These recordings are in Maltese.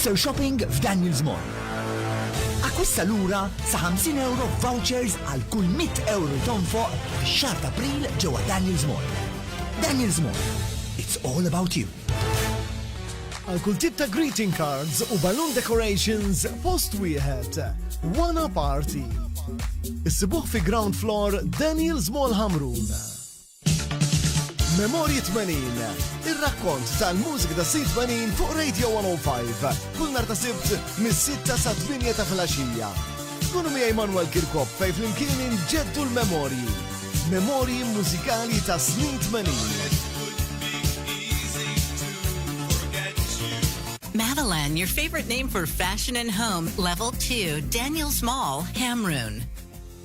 Easter Shopping f'Daniel's Mall. Akkwista lura sa 50 euro f'vouchers għal kull 100 euro li tonfoq fix-xahar t'April ġewwa Daniel's Mall. Daniel's Mall, it's all about you. Għal kull tip ta' greeting cards u balloon decorations post wieħed. Wana Party. Issibuh fi ground floor Daniel's Mall Hamrun. Memorji 80, ir-rakkont tal-mużika tas-snin 80 fuq Radio 105, kull nhar ta' Sibt mis-sitta sat-tmienja ta' filgħaxija. Kunu miegħi Manuel Kirkop fejn flimkien inġeddu l-memorji. Memorji mużikali tas-snin 80. Madeline, your favorite name for fashion and home, level two, Daniels Mall, Hamrun.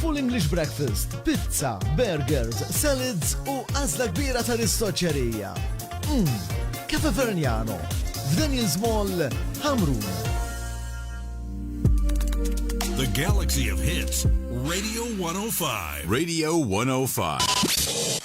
Full English Breakfast, pizza, burgers, salads u għazla kbira ta' ristoċerija. Mmm, Cafe Verniano, f'Daniel's Mall, Hamrun. The Galaxy of Hits, Radio 105. Radio 105.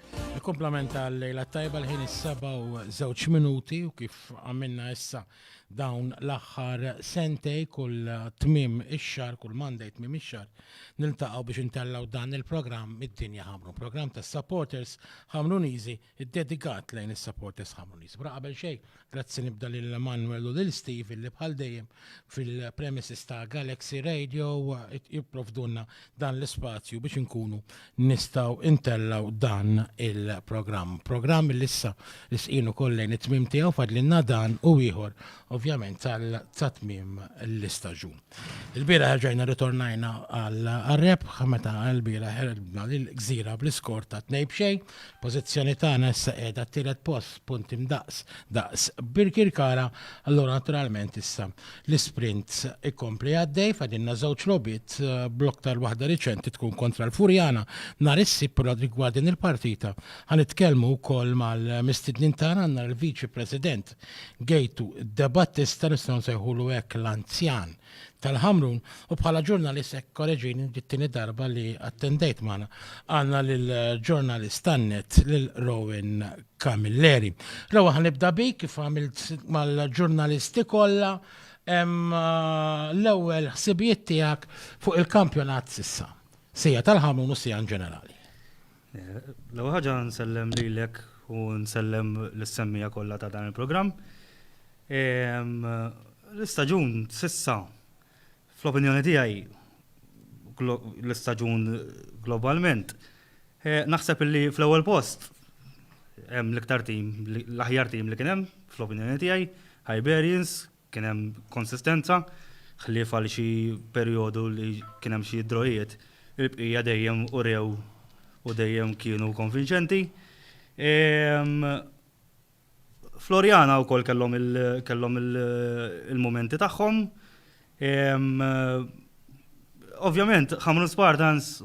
Il-komplement għal lejla tajba l-ħin is-seba u żewġ minuti u kif għamilna issa dawn l-aħħar sentej kull tmim ix-xar, kull Monday tmim ix-xar, niltaqgħu biex intellaw dan il-programm id-dinja ħamru. Programm tas-supporters ħamruniżi ddedikat lejn is-supporters ħamruniżi. Bra qabel xejn, Grazzi nibda lil Manuel u lil Steve li bħal dejjem fil-premises ta' Galaxy Radio jipprovdunna dan l-ispazju biex inkunu nistaw intellaw dan il-programm. Programm li issa l-isqinu kollejn it-tmim tiegħu fadlinna dan u ieħor ovvjament tal-tatmim l-istaġun. Il-bieraħ erġajna ritornajna għal-rebħ meta l-bieraħ ħerbna l-gżira bl-iskor ta' tnej b'xej. Pożizzjoni tagħna issa qiegħda t-tielet post punti mdaqs daqs Birkirkara, allura naturalment issa l-isprint ikompli għaddej fadilna żewġ logħbiet bl-aktar waħda riċenti tkun kontra l-Furjana nhar is-Sibt però rigward din il-partita ħa nitkellmu wkoll mal-mistednin tagħna għandna l-Viċi President Ħaleb, Gejtu de Battista, nistgħu nsejħulu hekk l-anzjan tal-Ħamrun, u bħala ġurnalist hekk koreġini dit-tieni darba li attendejt magħna. Għandna lil ġurnalist tan-net lil Rowan Camilleri. Rowan ħanibda bik kif għamilt mal-ġurnalisti kollha l-ewwel ħsibijiet tiegħek fuq il-kampjonat sissa. Sija tal-Ħamrun u sija in ġenerali. L-ewwel ħaġa nsellem lilek u nsellem lis-semmiegħa kollha ta' dan il-programm. L-istaġun s'issa fl-opinjoni tiegħi l-istaġun globalment naħseb li fl-ewwel post hemm l-iktar tim, l-aħjar tim li kien hemm fl-opinjoni tiegħi, Hibernians, Kien hemm konsistenza, ħlief għal xi perjodu li kien hemm xi drojiet, il-bqija dejjem urew u dejjem kienu konvinċenti. Floriana wkoll kellhom il-mumenti tagħhom. Ovvjament, Ħamrun Spartans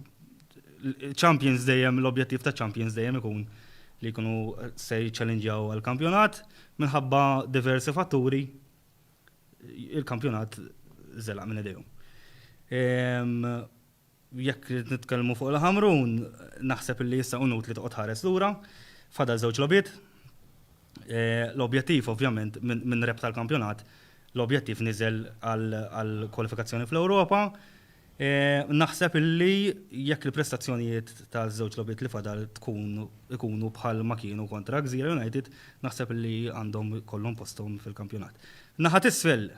Champions dejjem l-objettiv ta' Champions dejjem ikun li jkunu se jiċċallenġjaw għall-kampjonat minħabba diversi fatturi il-kampjonat żelaq minn idejhom. Ehm, jekk nitkellmu fuq il-ħamrun, naħseb li issa unut li toqgħod ħares lura, fadal żewġ lobiet. Eh, l-objettiv ovvjament minn rep tal-kampjonat, l-objettiv niżel għal kwalifikazzjoni fl-Ewropa, Naħseb illi jekk il-prestazzjonijiet taż-żewġ logħbiet li fadal tkun ikunu bħal ma kienu kontra Gżira United, naħseb illi għandhom ikollhom posthom fil-kampjonat. Naħa t'isfel,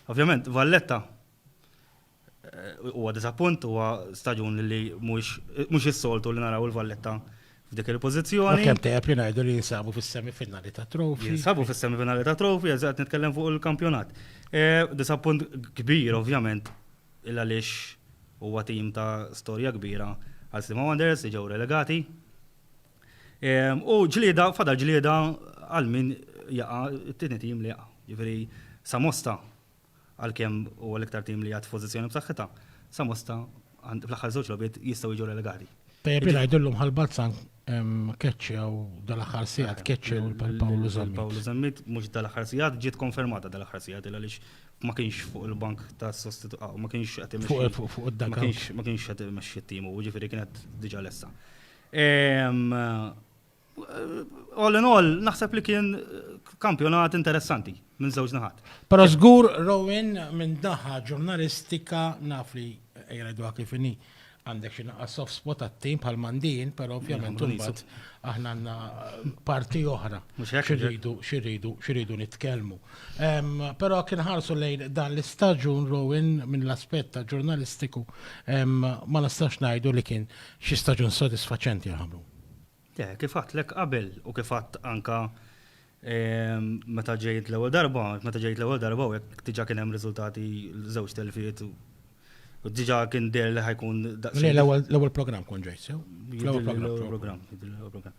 ovvjament, Valletta huwa diżappunt, huwa staġun li mhux is-soltu li naraw il-Valletta f'dik il-pożizzjoni. Kemm tajjeb li ngħidu li jinsabu fis-semifinali ta' trofi. Jinsabu fis-semifinali ta' trofi, eżatt nitkellem fuq il-kampjonat. Diżappunt kbir, ovvjament, il għaliex huwa tim ta' storja kbira għal Sliema Wanderers li ġew relegati. U ġlieda, fadal ġlieda għal min jaqa' t-tieni tim li jaqa'. Ġifieri Samosta għalkemm huwa l-iktar tim li għad f'pożizzjoni b'saħħitha, Samosta fl-aħħar żewġ logħbiet jistgħu jiġu relegati. Tajjeb li ngħidu llum Ħal Balzan Keċċew dal-aħħar sigħat, keċċew lil Pawlu Zammit. Pawlu Zammit mhux dal-aħħar sigħat, ġiet konfermata dal-aħħar sigħat il għaliex ma kienx fuq il-bank ta' sostitu ah, ma kienx qed imexxi. Fuq fuq id-daka. Ma kienx qed imexxi t-timu, ġifieri kienet diġà lessa. Ehm, all in all, naħseb li kien kampjonat interessanti. minn żewġ naħat. Però żgur Rowan minn naħa ġurnalistika naf li jgħiduha kif inhi għandek xi naqa' soft spot għat-tim bħal mandin, però ovvjament imbagħad aħna għandna parti oħra xirridu xirridu xirridu nitkellmu. Però kien ħarsu lejn dan l-istaġun Rowan minn l-aspett ta' ġurnalistiku ma nistax ngħidu li kien xi staġun sodisfaċenti ħamru. Le, kif għadtlek qabel u kif għadt anke meta ġejt l-ewwel darba, meta ġejt l-ewwel darba u hekk diġà kien hemm riżultati żewġ telfiet u diġà kien deher li ħa jkun daqsxejn. Le, l-ewwel programm kont ġejt sew. L-ewwel programm. L-ewwel programm.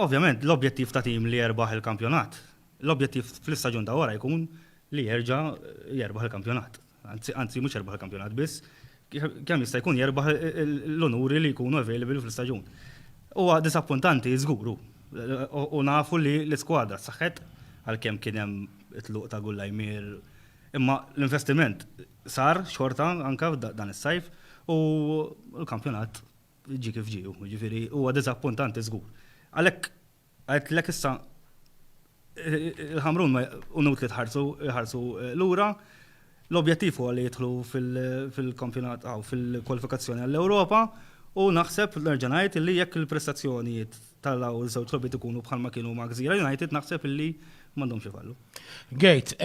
Ovvjament, l-objettiv ta' tim li jerbaħ il-kampjonat, l-objettiv fl-istaġun ta' wara jkun li jerġa' jerbaħ il-kampjonat. anzi anzi mhux jerbaħ il-kampjonat biss, kemm jista' jkun jerbaħ l-unuri li jkunu available fl-istaġun. Huwa disappuntanti żgur hu. U nafu li l-iskwadra saħħet għalkemm kien hemm it-tluq ta' Gullajmier. Imma l-investiment sar xorta anke dan is-sajf u l-kampjonat ġie kif ġie hu. Jiġifieri huwa disappuntanti żgur. Għalhekk Għidtlek issa il-Ħamrun ma hu inutli tħarsu jħarsu lura. L-objettiv huwa li jidħlu fil-kampjonat hawn fil-kwalifikazzjoni għall-Ewropa u naħseb nerġa' ngħid li jekk il-prestazzjonijiet tal-hawn iż-żewġ logħbiet ikunu bħalma kienu ma' Gżira United naħseb li m'għandhomx ifallu. Gate,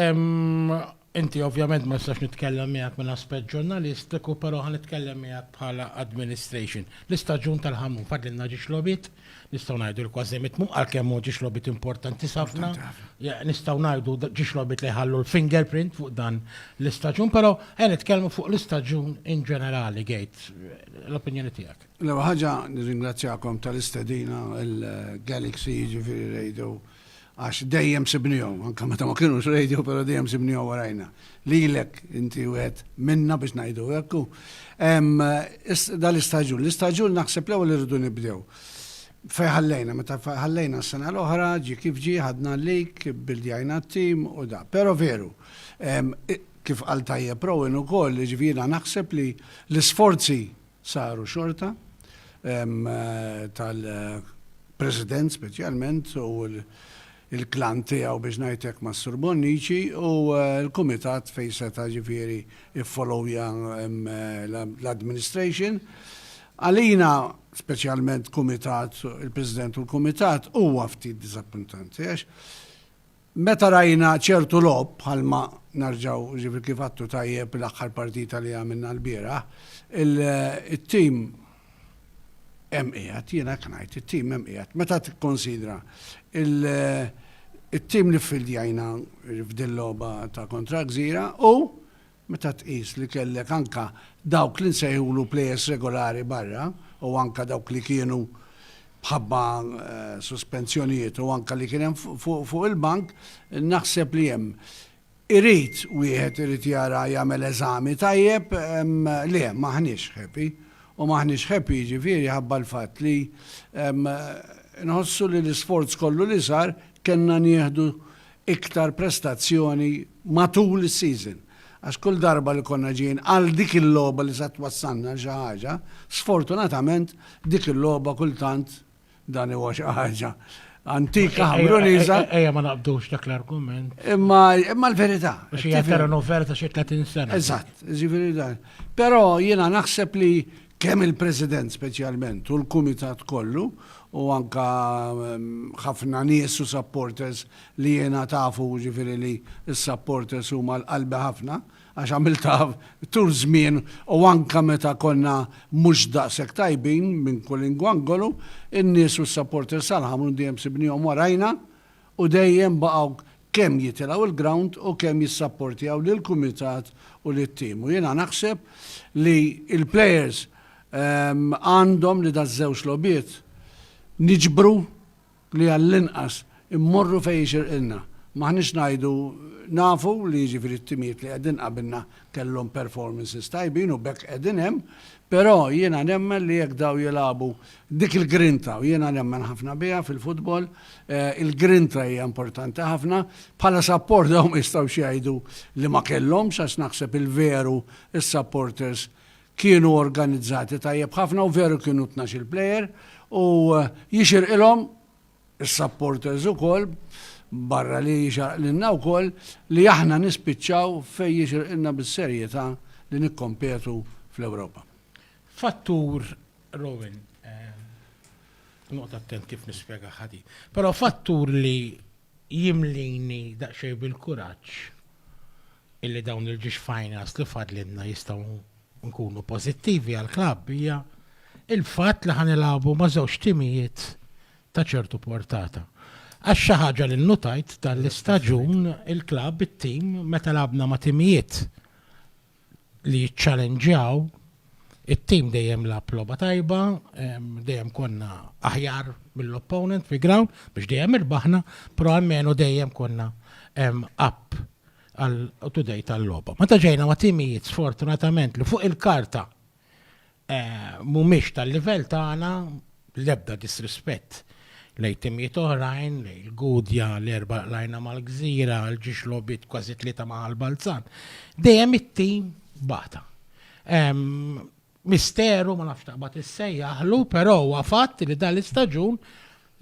Inti ovvjament ma nistax nitkellem miegħek minn aspett ġurnalistiku però ħa nitkellem miegħek bħala administration. L-istaġun tal-ħamrun fadlilna ġiex logħbiet, nistgħu ngħidu li kważi mitmum għalkemm hu ġiex logħbiet importantis ħafna. Nistgħu ngħidu ġiex logħbiet li jħallu l-finger print fuq dan l-istaġun però ejja nitkellmu fuq l-istaġun in ġenerali Gejt. L-opinjoni tiegħek. L-ewwel ħaġa nirringrazzjakom tal-istedina il-Galaxy jiġifieri rejdu għax dejjem sibnihom, anke meta ma kienux radio, però dejjem sibnihom warajna. Lilek inti wieħed minna biex ngħidu hekk. Dal-istaġun, l-istaġun naħseb l-ewwel irridu nibdew fej ħallejna, meta ħallejna s-sena l-oħra, ġi kif ġi, ħadna l-lik, bildjajna t-tim u da. Pero veru, kif għal tajjeb Rowan u koll, ġvira naħseb li l-sforzi saru xorta tal-President speċjalment u l-klan tiegħu biex ngħid hekk mas-Sur Bonnici u l-Kumitat fejn seta' ġifieri ffollowja l-administration. Għalina, speċjalment Kumitat, il-President u l-Kumitat, huwa ftit diżappuntanti għax Meta rajna ċertu logħob bħalma nerġgħu jiġifieri kif għadtu tajjeb l-aħħar partita li għamilna lbieraħ, it-tim hemm qiegħed, jiena hekk ngħid, it-tim hemm qiegħed. Meta tikkunsidra t-tim li ffildjajna f'din logħba ta' kontra Gżira u Meta tqis li kellek anke dawk li nsejħulu plejers regolari barra u anke dawk li kienu b'ħabba suspensjonijiet u anke li kien hemm fuq il-bank, naħseb li hemm irid wieħed irid jara jagħmel eżami tajjeb, le m'aħniex happy u m'aħniex happy jiġifieri ħabba l-fatt li nħossu li l-isforz kollu li sar kellna nieħdu iktar prestazzjoni matul is-season għax kull darba li konna ġejjin għal dik il-logħba li se twassalna għal xi ħaġa, sfortunatament dik il-logħba kultant dan huwa xi ħaġa antika ħamruniża. Ejja ma naqbdux dak l-argument. Imma imma l-verità. Biex hija vera novella ta' xi 30 sena. Eżatt, ġifieri dan. Però jiena naħseb li Kemm il-President speċjalment u l-Kumitat kollu u anke ħafna nies u supporters li jiena tafu jiġifieri li s-supporters huma għal qalbi ħafna għax għamiltha tul żmien u anke meta konna mhux daqshekk tajbin minn kulingwangolu, in-nies u s-supporters tal-Ħamrun dejjem sibnihom warajna. u dejjem baqgħu kemm jitilgħu l-grawnd u kemm jissapportjaw lill-kumitat u lit-tim u jiena naħseb li l-plejers għandhom li daż-żewġ logħbiet niġbru li għall-inqas immorru fejn jixirqilna. M'aħniex ngħidu nafu li jiġifieri t-timijiet li qegħdin qabilna kellhom performances tajbin u b'hekk qegħdin hemm, però jiena nemmen li jekk dawn jilagħbu Dik il-grinta, u jiena nemmen ħafna biha fil-futbol, il-grinta hija importanti ħafna. Bħala sapport dawn ma jistgħux jgħidu li ma kellhomx għax naħseb il-veru s-supporters kienu organizzati tajjeb ħafna u veru kienu tnax-il plejer u jixirqilhom is-supporters ukoll barra li jixarqlilna wkoll li aħna nispiċċaw fejn jixirqilna bis-serjetà li nikkompetu fl-Ewropa. Fattur Rowan, noqgħod attent kif nispjega ħadi. Però fattur li jimlini daqsxejn bil-kuraġġ illi dawn il-ġiex finals li fadlinna jistgħu nkunu pożittivi għal klabb hija il-fatt li ħanilagħbu ma' żewġ timijiet ta' ċertu portata. Għax xi ħaġa li nnutajt tal-istaġun il-klabb it-tim meta labna ma' timijiet li jiċċalenġjaw, it-tim dejjem lagħab logħba tajba, dejjem konna aħjar mill-opponent fi ground biex dejjem irbaħna, però għalmenu dejjem konna up għal today tal-logħba. Meta ġejna ma' timijiet sfortunatament li fuq il-karta mhumiex tal-livell tagħna, l-ebda disrispett lejn timijiet oħrajn, lejn il-Gudja, l-Erbgħa qlajna mal-Gżira, l-Ġiex logħbiet kważi tlieta ma' Ħal Balzan. Dejjem it-tim bata. Misteru, ma nafx taqbad issejjaħlu, però huwa fatt li dan l-istaġun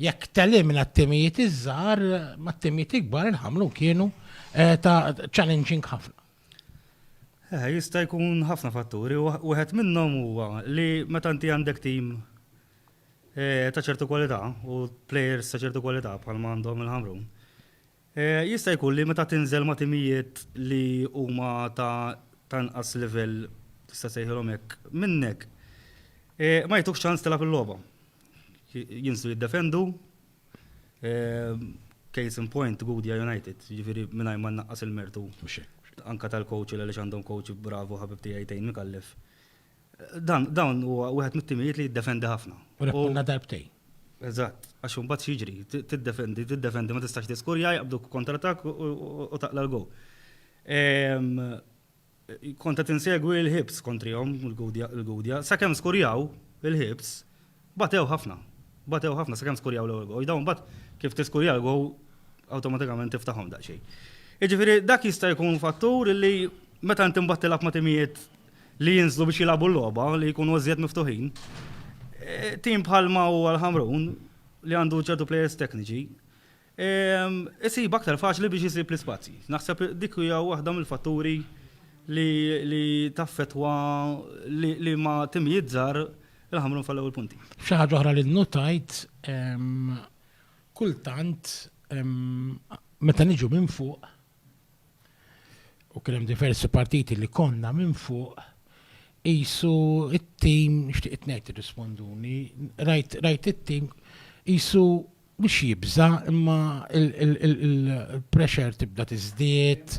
jekk telimina t-timijiet iż-żgħar, mat-timijiet ikbar il-ħamlu kienu ta' challenging ħafna. Eh, jista' jkun ħafna fatturi, wieħed minnhom huwa li meta inti għandek tim eh, ta' ċertu kwalità u players ta' ċertu kwalità bħal għandhom il-ħamrun. Eh, jista' jkun li meta tinżel ma' timijiet li huma ta' tanqas livell tista' sejħilhom hekk minnek. Ma jtuk ċans tilgħab il-logħba. Jinsu jiddefendu Case in point, Gudja United, ġifiri minaj ma naqqas il-mertu. Anka tal-coach li għalix għandhom coach bravu ħabib tijaj tejn mikallef. Dan u għuħet mit-timijiet li jiddefendi ħafna. U reponda darbtej. Eżatt, għax un bat xieġri, tiddefendi, tiddefendi, ma tistax tiskurja, jgħabdu kontratak u taqla l-go. Kont qed insegwi l-Hibs kontrihom, il-Gudja, sakemm skurjaw il-Hibs, batew ħafna. Batew ħafna sakemm skurjaw l-ewwel gowl. Dawn imbagħad kif tiskurja l-gowl awtomatikament tiftahom daqsxejn. Jiġifieri dak jista' jkun fattur li meta inti mbagħad tilgħab ma' timijiet li jinżlu biex jilagħbu l-logħba li jkunu iżjed miftuħin, tim bħalma huwa l-Ħamrun li għandu ċertu plejers tekniċi, isib aktar faċli biex isib l-ispazji. Naħseb dik hija waħda mill-fatturi li taffettwa li ma timijiet żgħar il-ħamrun fallew il-punti. Xi ħaġa oħra li nnutajt kultant meta niġu minn fuq u kien hemm diversi partiti li konna minn fuq qisu it-tim nixtieq ngħid irrisponduni, rajt it-tim qisu Mhux jibża' imma l-pressure tibda tiżdied,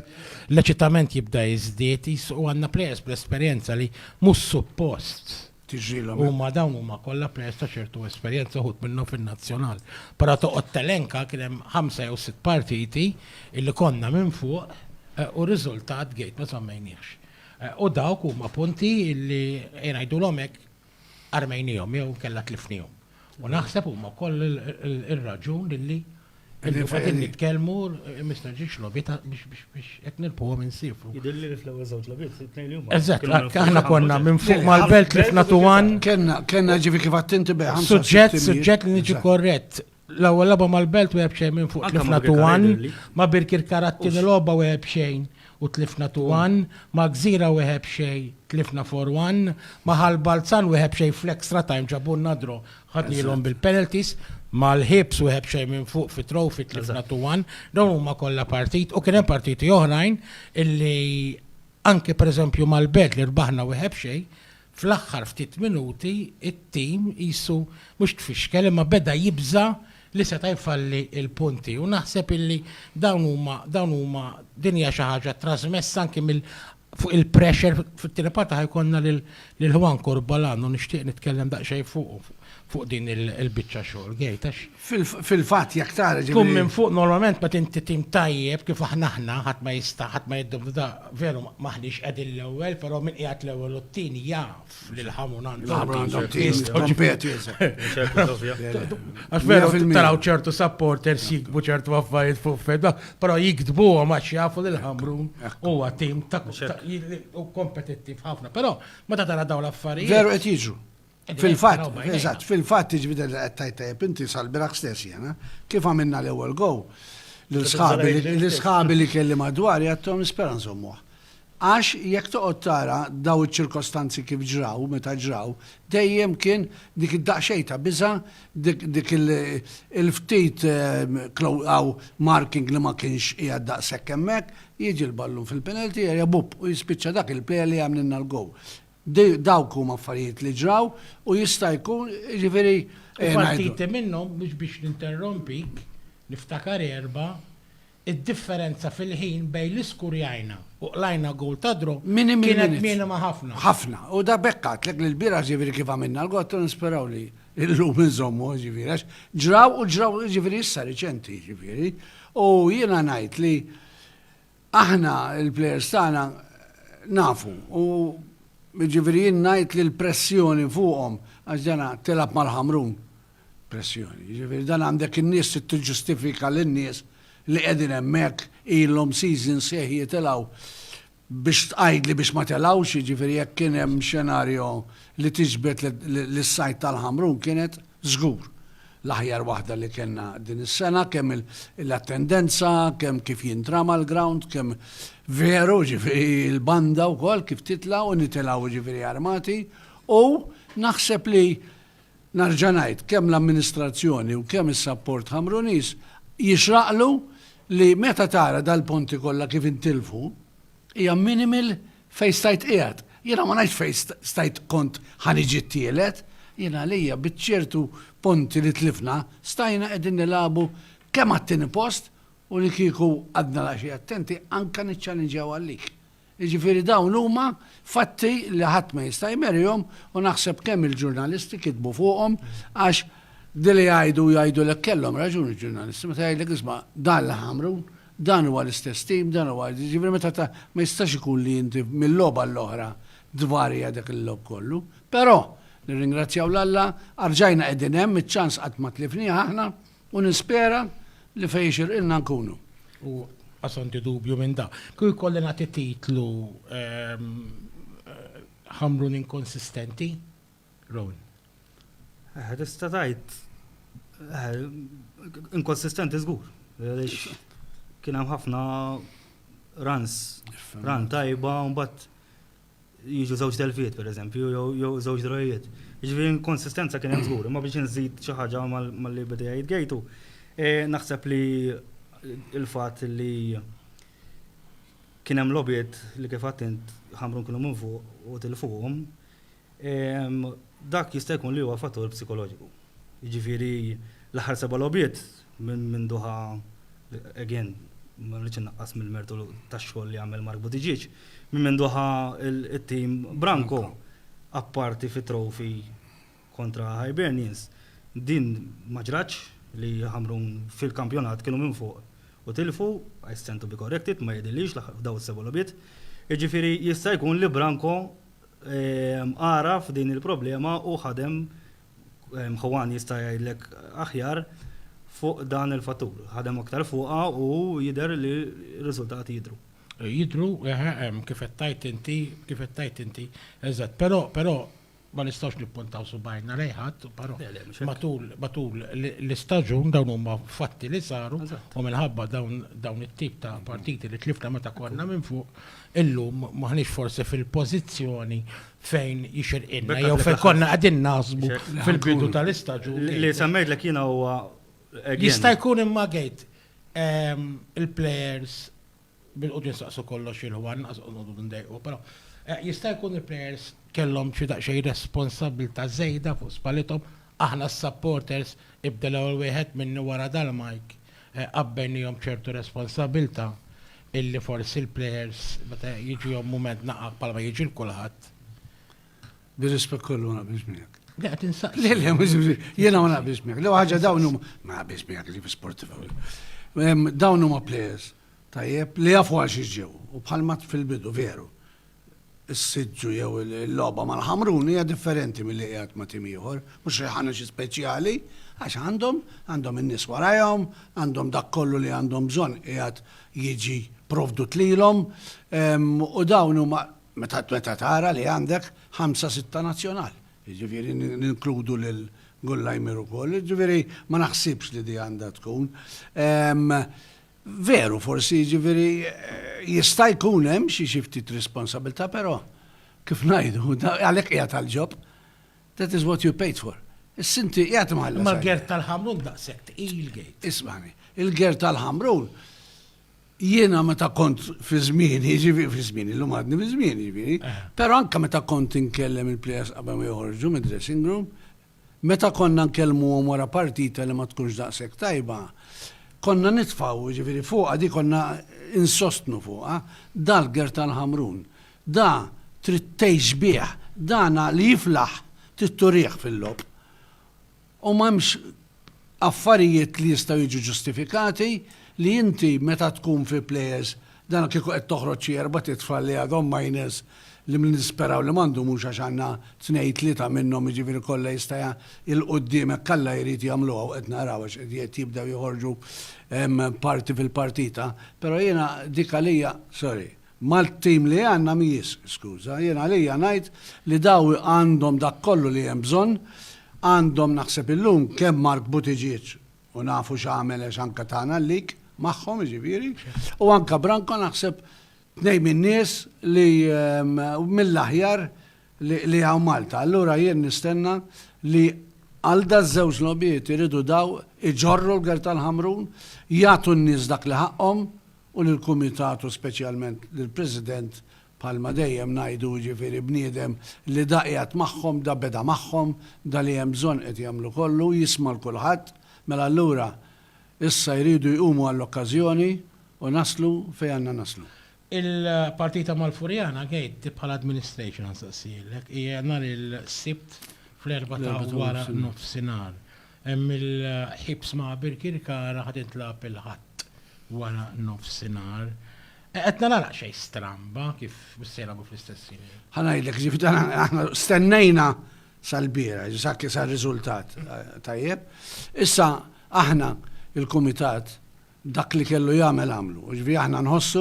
l-eċitament jibda jiżdied, qisu u għandna plejers bl-esperjenza li mhux suppost huma dawn huma kollha plejers ta' ċertu esperjenza uħud minnhom fin-nazzjonal. Però toqgħod telenka kien hemm ħamsa jew sitt partiti li konna minn fuq u r-riżultat gate ma żammejniehx. U dawk huma punti li ngħidulhom hekk armejniehom jew inkella tlifniehom. U naħseb huma wkoll ir-raġun li qegħdin nitkellmu Mr. Ġiex Lobita biex qed nilquhom insifru. Jidhirli li fl-ewwel żewġ logħbiet, it-tnejn li huma. Eżatt, aħna konna minn fuq mal-belt li fnatu għan. Kenna ġifi kif attinti bejn. Suġġett, suġġett li niġi korrett. L-ewwel logħba mal-Belt wieħed b'xejn minn fuq tlifna tuwan, ma' Birkirkara t-tieni logħba wieħed b'xejn u tlifna tuwan, ma' Gżira wieħed b'xejn tlifna four one, ma' Ħal Balzan wieħed b'xejn fl-extra time ġabulna draw ħadnielhom bil-penalties, mal-Hibs wieħed b'xejn minn fuq fi Trophy tlifna two one, dawn huma kollha partiti u kien hemm partiti oħrajn illi anke pereżempju mal-Belt li rbaħna wieħed b'xejn Fl-aħħar ftit minuti t-tim qisu mhux tfixkel imma beda jibża' li seta' jfalli l-punti u naħseb illi dawn huma dawn huma din hija xi ħaġa trażmessa anki mill fuq il-pressure fit-tieni parti ħa jkollna lil lil Juan Corbalan u nixtieq nitkellem daqsxejn fuqu fuq din il-biċċa xogħol Gate għax Fil-fatt jekk tara ġifieri. Tkun minn fuq normalment meta inti tim tajjeb kif aħna aħna ħadd ma jista' ħadd ma jiddubita veru m'aħniex qegħdin l-ewwel però min qiegħed l-ewwel u t-tieni jaf li l-ħamu mingħand Għax veru taraw ċertu supporters jiktbu ċertu affarijiet fuq feda, però jiktbuhom għax jafu li l-Ħamrun huwa tim kompetittiv ħafna. Però meta tara dawn l-affarijiet. Veru qed jiġru. Fil-fatt, eżatt, fil-fatt tiġbida li qed tajt tajjeb inti sal-biraħ stess jena, kif għamilna l-ewwel go, l-sħabi li kelli madwar jgħattom nispera nżommuh. Għax jekk toqgħod tara daw iċ-ċirkostanzi kif ġraw, meta ġraw, dejjem kien dik id-daqsxejn ta' biża, dik il-ftit għaw marking li ma kienx qiegħed daqshekk hemmhekk, jiġi l-ballun fil-penalty area bupp u jispiċċa dak il-player li għamlilna l-goal. Dawk huma affarijiet li ġraw u jista' jkun, jiġifieri, eh, ngħidu. U partiti minnhom, mhux biex ninterrompik, niftakar erbgħa, id-differenza fil-ħin bejn li skurjajna u qlajna goal ta' draw kienet minima ħafna. Ħafna. U da b'hekk għedtlek li lbieraħ, jiġifieri, kif għamilna l-goal ta' nisperaw li llum inżommu, jiġifieri, għax ġraw u ġraw, jiġifieri, issa riċenti, jiġifieri. U jiena ngħid li Aħna l-plejers tagħna nafu u jiġifieri jien ngħid li l-pressjoni fuqhom għax dana tilgħab mal-Ħamrun. Pressjoni. Jiġifieri dan għandek in-nies trid tiġġustifika lin-nies li qegħdin hemmhekk ilhom seasons sħiħ jitilgħu biex tqajdli biex ma telgħux, jiġifieri jekk kien hemm xenarju li tiġbed lis-sajd tal-Ħamrun kienet Żgur. L-aħjar waħda li kellna din is-sena kemm l-attendenza, kemm kif jintrama l-ground, kemm veru ġifieri l-banda wkoll kif titla' u nitilgħu ġifieri armati u naħseb li nerġa' ngħid kemm l-amministrazzjoni u kemm is-sapport Ħamruniż jixraqlu li meta tara dal-punti kollha kif intilfu hija minimal Fejn stajt qiegħed. Jiena ma ngħidx fejn stajt kont ħa niġi t-tielet. Jien għalija biċ-ċertu punti li tlifna stajna qegħdin nilagħbu kemm għat-tieni post u li kieku għadna daqsxejn attenti anke niċċalinġjaw għal lik. Jiġifieri dawn huma fatti li ħadd ma jista' jmerihom u naħseb kemm il-ġurnalisti kitbu fuqhom għax dili jgħidu u jgħidulek kellhom raġun il-ġurnalisti meta jgħidlek isma' dan l-Ħamrun Dan huwa l-istess tim, dan huwa, jiġifieri meta ta, ma jistax ikun li inti mil-logħba għall-oħra tvarja dak il-logħob kollu. Però, nirringrazzjaw 'l Alla, arġajna qegħdin hemm, iċ-ċans qatt ma tlifnieh aħna u nispera li fejn ixirqilna nkunu. U qas għandi dubju minn dan. Kieku jkolli nagħti titlu, Ħamrun inkonsistenti. Rowan. Eħe, tista' tgħid eħe, inkonsistenti żgur. Għaliex kien hemm ħafna runs, run tajba, u mbagħad jiġu żewġ delfiet pereżempju, jew żewġ drojiet. Ġifieri inkonsistenza kien hemm żgur, imma biex inżid xi ħaġa mal-li beda jgħid gejtu, eh, naħseb li il-fatt li kien hemm lobiet li kif għattint ħamrun kienu minn fuq u tilfuhom, Dak jista' jkun li huwa fattur psikoloġiku. Jiġifieri l-aħħar seba' logħbiet minn Doha, again, ma rridx innaqqas mill-mertu tax-xogħol li għamel Mark Buttigieg, minn Doha it-tim Branko, apparti fit-trophy kontra Hibernians, din ma ġratx li Ħamrun fil-kampjonat kienu minn fuq u tilfu, I stand to be corrected, ma jidhirlix f'dawn is-seba' logħbiet. Jiġifieri jista' jkun li Branko għaraf din il-problema u ħadem, Juan jista' jgħidlek aħjar, fuq dan il-fattur. Ħadem aktar fuqha u jidher li r-riżultati jidhru. Jidhru, eħe, hemm, kif qed tgħid inti, kif qed tgħid inti. Eżatt. Però, però, ma nistgħux nippuntaw subgħajna lejn ħadd, però matul, matul l-istaġun dawn huma fatti li saru u minħabba dawn, dawn it-tip ta' partiti li tlifna meta konna minn fuq, Illum m'aħniex forsi fil-pożizzjoni fejn jixirqilna jew fejn konna qegħdin naħsbu fil-bidu tal-istaġun. Li semmejtlek jiena huwa Jista' jkun imma għid ehm, il-plejers bil-qudiem saqsu kollox il-ħwan, naqsu ndejqu, però eh, jista' jkun il-plejers kellhom xi daqsxejn responsabilità żejda fuq spalithom aħna s-supporters ibda l-ewwel wieħed minni wara dal-mike eh, qabbennihom ċertu responsabilità illi forsi l-plejers meta jiġihom mument naqaq bħalma jiġi l-kulħadd. Bir-rispett kollu ma naqbilx miegħek. Le qed insaqsi. Le le mhux jiena ma naqbilx miegħek. Lew ħaġa dawn huma ma naqbilx miegħek li sportiv Dawn huma plejers tajjeb li jafu għal xi ġew u bħalma fil-bidu veru. is-siġġu jew il-logħba mal-Ħamrun hija differenti milli qiegħed ma' tim ieħor. Mhux li ħa xi speċjali, għax għandhom, għandhom in-nies warajhom, għandhom dak kollu li għandhom bżonn qiegħed jiġi provdut lilhom u dawn huma meta tara li għandek ħamsa sitta nazzjonal, jiġifieri ninkludu lil Gullajmier ukoll, jiġifieri ma naħsibx li din għandha tkun. Veru, forsi jiġifieri jista' jkun hemm xi xi ftit responsabilità, però kif ngħidu, għalhekk qiegħed għall-ġob. That is what you paid for. Issa inti qiegħed imħallas. Imma l-Gert tal-Ħamrun daqshekk tqil, Gate. Ismagħni, il-Gert tal-Ħamrun jiena meta kont fi żmieni, jiġifieri fi żmieni, llum għadni fi żmieni jiġifieri, però anke meta kont inkellem il-plejers qabel ma joħorġu mid-dressing room, Meta konna nkellmuhom wara partita li ma tkunx daqshekk tajba, konna nitfgħu, jiġifieri fuqha di konna insostnu fuqha, dal-ger tal-Ħamrun, da trid tgħix bih, dana li jiflaħ trid turih fil-logħob. U m'hemmx Affarijiet li jistgħu jiġu ġustifikati, li inti meta tkun fi play-offs dan kieku qed toħroġ xi erbat itfal li għadhom minors li nisperaw li m'għandhom mhux għax għandna tnejn tlieta minnhom jiġifieri kollha jista' il-quddiemek Alla jrid jagħmluha u qed naraw għax qed jibdew joħorġu parti fil-partita, però jiena dik għalija sorry. Mal-tim li għandna mhijiex skuża. Jien għalija ngħid li daw għandhom dak kollu li hemm bżonn. Għandhom naħseb illum kemm Mark Buttigieg u nafu x'għamel għax anke tana l-leak magħhom jiġifieri u anke Branko naħseb tnejn min-nies li mill-aħjar li hawn Malta. Allura jien nistenna li għal daż-żewġ logħbiet iridu daw iġorru l-Gwerta l-Ħamrun, jagħtu n-nies dak li ħaqqhom u lill-Kumitat u speċjalment lill-President bħalma dejjem ngħidu jiġifieri bniedem li da qiegħed magħhom, da beda magħhom, da li hemm bżonn qed jagħmlu kollu, jisma' 'l kulħadd, mela allura issa jridu jqumu għall-okkażjoni u naslu fejn għandna naslu. Il-partita mal-Furjana gate di bħala administration nsaqsijilek hija nhar il-Sibt fl-erbgħa ta' wara nofsinhar. Hemm il-ħiebs ma' Birkirkara ħa tintlagħab il-Ħadd wara nofsinhar. Qed nara daqsxejn stramba kif mhux se jilagħbu fl-istess ħin. Ħa ngħidlek, ġifieri dan aħna stennejna sal-bieraħ, ġifieri sakemm sar riżultat tajjeb. Issa aħna l-kumitat Dak li kellu jagħmel għamlu. Jiġifieri aħna nħossu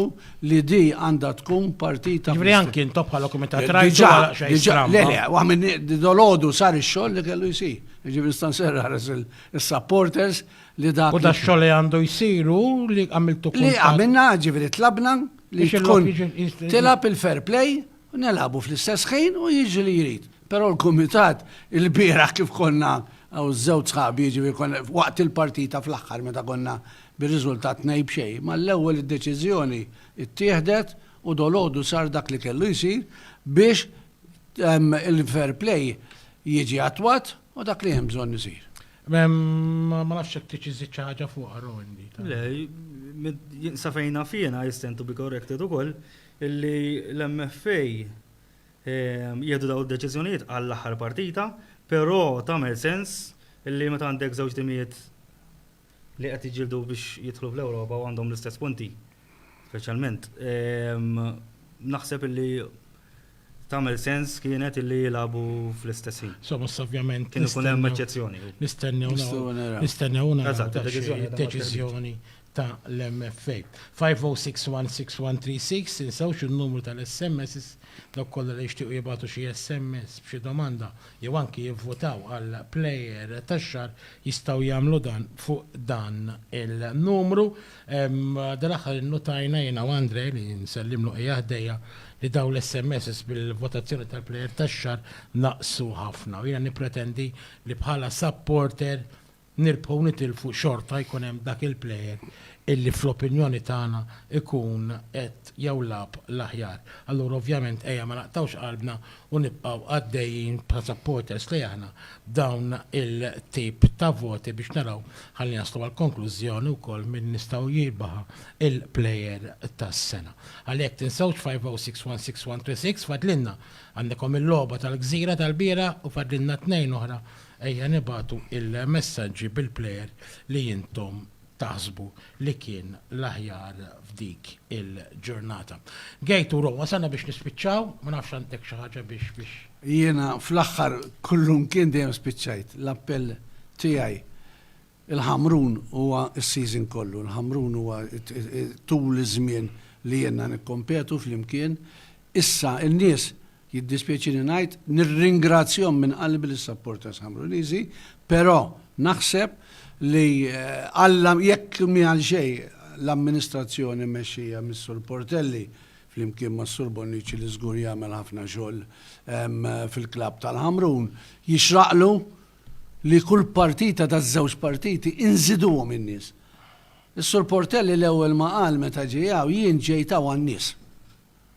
li di għandha tkun partita. Jiġifieri anki intom bħala kumitat rajtu għala xejn stramba. Le le, waħ minn dolodu sar ix-xogħol li kellu jsir. Jiġifieri nista' nserra ħares is-supporters li dak. U da xogħol li għandu jsiru li għamiltu kull. Li għamilna ġifieri tlabna li tkun tilab il-fair play u nilagħbu fl-istess ħin u jiġri li jrid. Però l-kumitat ilbieraħ kif konna hawn żewġ sħabi jiġifieri konna waqt il-partita fl-aħħar meta konna bir-riżultat tnejn b'xejn mal-ewwel id-deċiżjoni ttieħdet u dolodu sar dak li kellu jsir biex il-fair play jiġi attwat u dak li hemm bżonn isir. Ma nafx jekk tixi żid xi ħaġa fuqha Rowan. Le, sa fejn naf jiena, I stand to be corrected ukoll, li l-MFA jieħdu dawn id-deċiżjonijiet għall-aħħar partita, però tagħmel sens li meta għandek żewġ timijiet li qed jiġġieldu biex jidħlu fl-Ewropa u għandhom l-istess punti, speċjalment, naħseb li Tagħmel sens kienet illi jilagħbu fl-istess ħin. Insomma, issa ovvjament. Kien ikun hemm eċċezzjoni. Nistennew naraw. Nistennew naraw deċiżjoni ta' l-MFA. 50616136 tinsewx in-numru tal-SMS dawk kollha li jixtiequ jibgħatu xi SMS b'xi domanda jew anki jivvutaw għal plejer tax-xahar jistgħu jagħmlu dan fuq dan il-numru. Dal-aħħar innutajna jiena u Andre, li nsellimlu qiegħa ħdejja, li dawn l-SMSs bil-votazzjoni tal-plejer tax-xahar naqsu ħafna u jiena nippretendi li bħala supporter nirbħu u nitilfu xorta jkun hemm dak il-plejer illi fl-opinjoni tagħna jkun qed jew lagħab l-aħjar. Allura ovvjament ejja ma naqtgħux qalbna u nibqgħu għaddejjin bħala supporters li aħna b'dawn il-tip ta' voti biex naraw ħalli naslu għall-konklużjoni wkoll min nistgħu jirbaħha il-Player tas-Sena. Ħalli hekk tinsewx 50616126 fadlilna għandkom il-logħba tal-Gżira tal-bieraħ u fadlilna tnejn oħra ejja nibagħtu il-messaġġi bil-player li intom taħsbu li kien l-aħjar f'dik il-ġurnata. Gate u Ro, wasalna biex nispiċċaw, ma nafx għandek xi ħaġa biex biex. Jiena fl-aħħar kullum kien dejjem spiċċajt. L-appell tiegħi il-Ħamrun huwa s-season kollu, il-Ħamrun huwa tul iż-żmien li jiena nikkompetu flimkien. Issa n-nies jiddispjaċini ngħid, nirringrazzjahom minn qalbi lis-supporters Ħamruniżi, però naħseb li Alla jekk mhi għal xejn l-amministrazzjoni mmexxija mis-Sur Portelli flimkien mas-Sur Bonnici li żgur jagħmel ħafna xogħol fil-klabb tal-Ħamrun, jixraqlu li kull partita taż-żewġ partiti inżiduhom in-nies. Is-Sur Portelli l-ewwel ma qal meta ġie hawn, jien ġejt hawn għan-nies.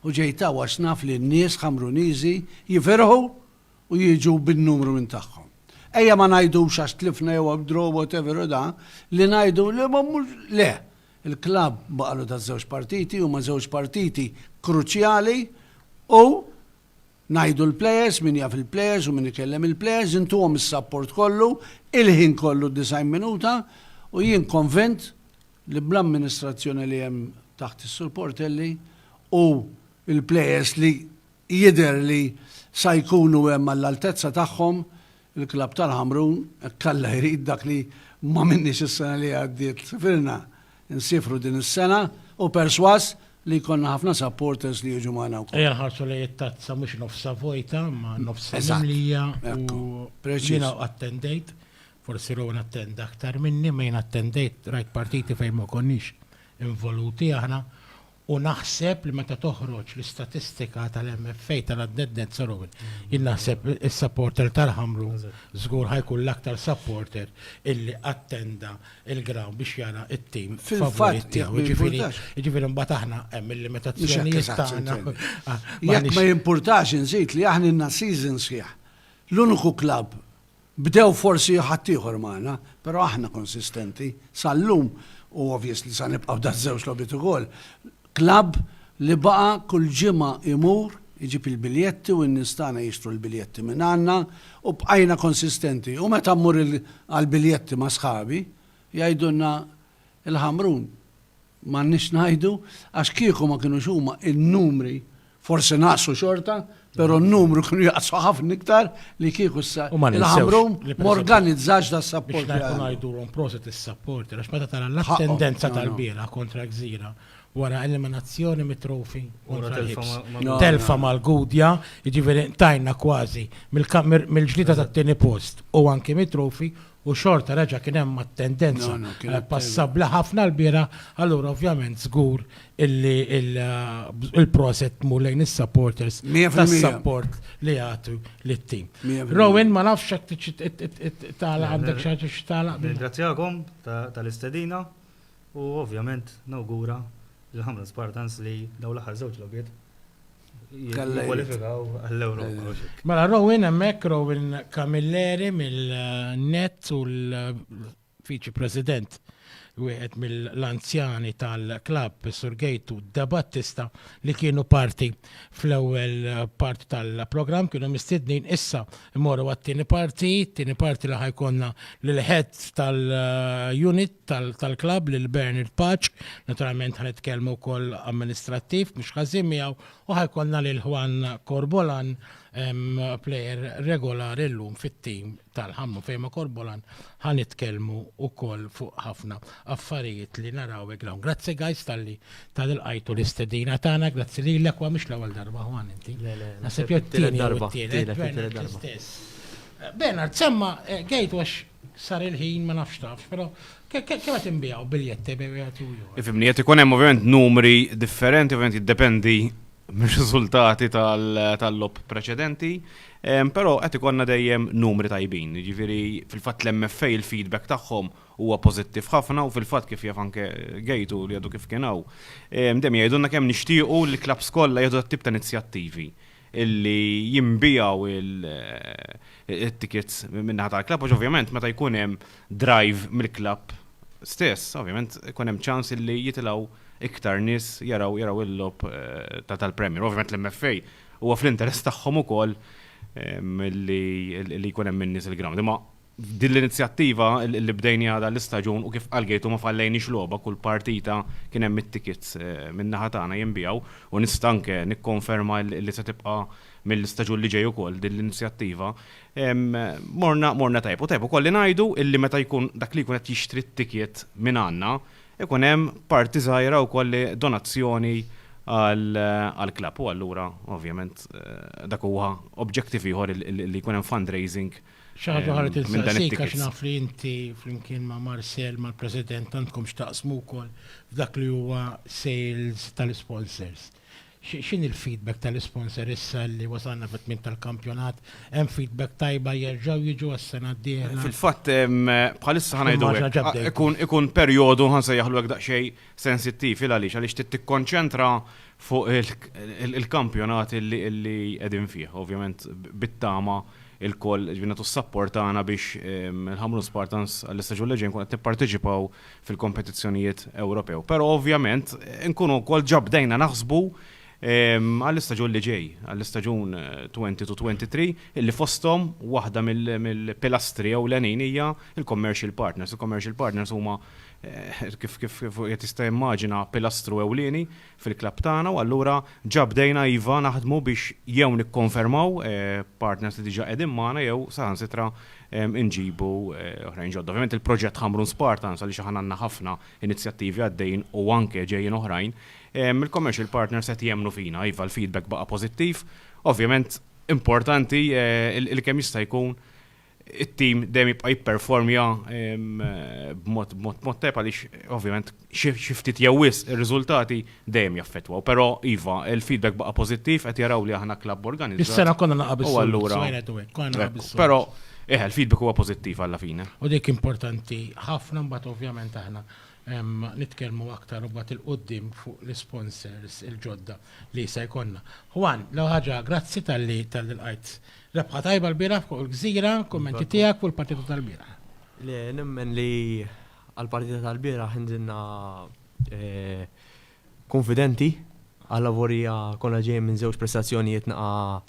u ġejt hawn għax naf li n-nies Ħamruniżi jifirħu u jiġu bin-numru minn tagħhom. Ejja ma ngħidux għax tlifna jew għaw draw whatever u da, li ngħidu li ma mmux, le! Il-klabb baqalu taż-żewġ partiti huma żewġ partiti kruċjali u Ngħidu l-players, min jaf il-players u min ikellem il-players, intuhom is-sapport kollu, il-ħin kollu d-90 minuta u jien konvint li bl-amministrazzjoni li hemm taħt is-Sur Portelli u l-players li jidher li sa jkunu hemm għall-altezza tagħhom, Il-klabb tal-Ħamrun hekk Alla jrid dak li m'għamilniex is-sena li għaddiet sifirna, nsiefru din is-sena u persważ li jkollna ħafna supporters li jiġu magħna wkoll. Ejja nħarsu lejn it-tazza mhux nofsha vojta imma nofsha mimlija u jiena attendejt, forsi Rowan attenda aktar minni, imma jiena attendejt rajt partiti fejn ma konniex involuti aħna, U naħseb li meta toħroġ l-istatistika tal-MFA tal-għadded net zero-win, jien naħseb is-supporter tal-Ħamrun żgur ħa jkun l-aktar supporter illi attenda l-ground biex jara t-tim favorit tiegħu. Jiġifieri mbagħad aħna hemm il-limitazzjonijiet tagħna. Jekk ma jimpurtax inżid li aħna ilna season sħiħ l-uniku klabb Bdew forsi ħaddieħor magħna, però aħna konsistenti sal-lum u obvious li sa nibqa' b'dan żewġ logħbiet ukoll. Klabb li baqa' kull ġimgħa jmur iġib il-biljetti u n-nies tagħna jixtru l-biljetti minn għandna u bqajna konsistenti u meta mmur għall-biljetti ma' sħabi jgħidulna Il-Ħamrun m'għandniex ngħidu għax kieku ma kinux huma n-numri forsi naqsu xorta, però n-numru kienu jaqsu ħafna iktar li kieku issa il-Ħamrun m'organizzax das-support. Biex ngħidu ngħidulhom proset is-support għax meta tara l-attendenza tal-bieraħ kontra Gżira wara eliminazzjoni mit-trofi kontra l-Ħips. Telfa mal-Gudja, jiġifieri ntajna kważi mill-ġlieda tat-tieni post u anke mit-trofi u xorta reġa' kien hemm attendenza passabbli ħafna l-bieraħ, allura ovvjament żgur illi il-proset tmur lejn is-supporters tas-support li jagħtu lit-tim. Rowan ma nafx hekk tagħlaq għandek xi ħaġa xi tagħlaq. Nirringrazzjakom tal-istedina u ovvjament nawgura lill-Ħamra Spartans li dawn l-aħħar żewġ logħbiet Kwalifikaw għall-Ewropa. Mela Rowan hemmhekk Rowan Camilleri mill-Net u l-Viċi President wieħed mill-anzjani tal-klab Sur Gejtu Da Battista li kienu parti fl-ewwel parti tal-programm kienu mistednin issa Immorru għat-tieni parti, tieni parti li ħajkonna l-head tal-unit tal-klab lil Bernard Paċ, naturalment ħanitkellmu wkoll amministrattiv mhux ħażin miegħu u ħajkonna lil Juan Corbolan player regolari llum fit-tim tal-ħammu fejma Corbolan Ħa nitkellmu wkoll fuq ħafna affarijiet li naraw hekk dawn. Grazzi guys talli talli lqajtu l-istedina tagħna, grazzi lilek, huwa mhix l-ewwel darba Juan inti. Le le. Naħseb jew it-tieni jew it-tielet. Bernard l-istess. Bernard, semma' gate wax sar il-ħin ma nafx tafx, però kemm qed inbiegħu biljett ebay wieħed u ieħor? Ifhimni, qed ikun hemm ovvjament numri differenti, ovvjament jiddependi mir-riżultati tal-logħob preċedenti, però qed ikollna dejjem numri tajbin. Jiġifieri fil-fatt l-MFA il-feedback tagħhom huwa pożittiv ħafna u fil-fatt kif jaf anke Gejtu li għadu kif kien hawn, dejjem jgħidulna kemm nixtiequ li l-klabbs kollha jieħdu dat-tip ta' inizjattivi li jinbiegħu t-tickets min-naħa tal-klabb għax ovvjament meta jkun hemm drive mill-klabb stess, ovvjament ikun hemm ċans li jitilgħu iktar nies jaraw jaraw il-logħob tal-Premier. Ovvjament l-MFA huwa fl-interess tagħhom ukoll li jkun hemm in-nies il-ground. Imma din l-inizjattiva li bdejni għadha l-istaġun u kif qalgejtu ma fallejniex logħba kull partita kien hemm it-tickets min-naħa tagħna jinbiegħu u nista' anke nikkonferma li se tibqa' mill-istaġun li ġej ukoll din l-inizjattiva. Morna tajjeb. U tajjeb ukoll li ngħidu li meta jkun dak li jkun qed jixtri t-ticket minn għandna Ikun hemm parti żgħira wkoll li donazzjoni għall-klabb u allura ovvjament dak huwa obġektiv ieħor li jkun hemm fundraising Xi ħaġa oħra rrid insaqsik għax naf li inti flimkien ma' Marcel mal-President għandkom x'taqsmu wkoll f'dak li huwa sales tal-isponsors. X'inhi l-feedback tal-isponsor issa li wasalna fit-tmiem tal-kampjonat? Hemm feedback tajba jerġgħu jiġu għas-sena d-dieħla? Fil-fatt, bħalissa ħa ngħidu hekk, ikun perjodu, ħa nsejjaħlu hekk daqsxejn, sensittiv. Il għaliex? Għaliex trid tikkonċentra fuq il-kampjonat li qegħdin fih. Ovvjament bit-tama lkoll, jiġifieri nagħtu s-sapport tagħna biex il-Ħamrun Spartans għall-istaġun li ġej nkunu qed nipparteċipaw fil-kompetizzjonijiet Ewropew. Però ovvjament nkunu wkoll ġabdejna naħsbu ehm, għall-istaġun li ġej, għall-istaġun 22-23, eh, illi fostom waħda mill-pilastri jew l-għanin hija il-commercial partners. Il-commercial partners huma eh, kif kif qed jista' immaġina pilastru ewlieni fil-klabb tagħna u allura ġa bdejna iva naħdmu biex jew nikkonfermaw partners li diġà qegħdin magħna jew saħansitra nġibu oħrajn ġodda. Ovvjament il-proġett Ħamrun Spartans għaliex aħna għandna ħafna inizjattivi għaddejjin u anke ġejjin oħrajn, il-commercial partners qed jemmnu fina, iva l-feedback baqa' pożittiv. Ovvjament importanti li kemm jista' jkun it-tim dejjem jibqa' jipperformja b'mod tajjeb għaliex ovvjament xi ftit jew wisq ir-riżultati dejjem jaffettwaw. Però iva, il-feedback baqa' pożittiv, qed jaraw li aħna klabb organizzat. Is-sena konna naqa' bis-soltu. U allura. Konna naqa' bis-soltu. Però eħe, il-feedback huwa pożittiv alla fine. U dik importanti ħafna mbagħad ovvjament aħna nitkellmu aktar imbagħad 'il quddiem fuq l-isponsors il-ġodda li se jkollna. Juan, l-ewwel ħaġa grazzi talli lqajt Rebħa tajba lbieraħ fuq il-Gżira, kummenti tiegħek fuq il-partita tal-bieraħ? Le, nemmen li għall-partita tal-bieraħ inżilna kunfidenti, għall-avolja konna ġejjin minn żewġ prestazzjonijiet naqa'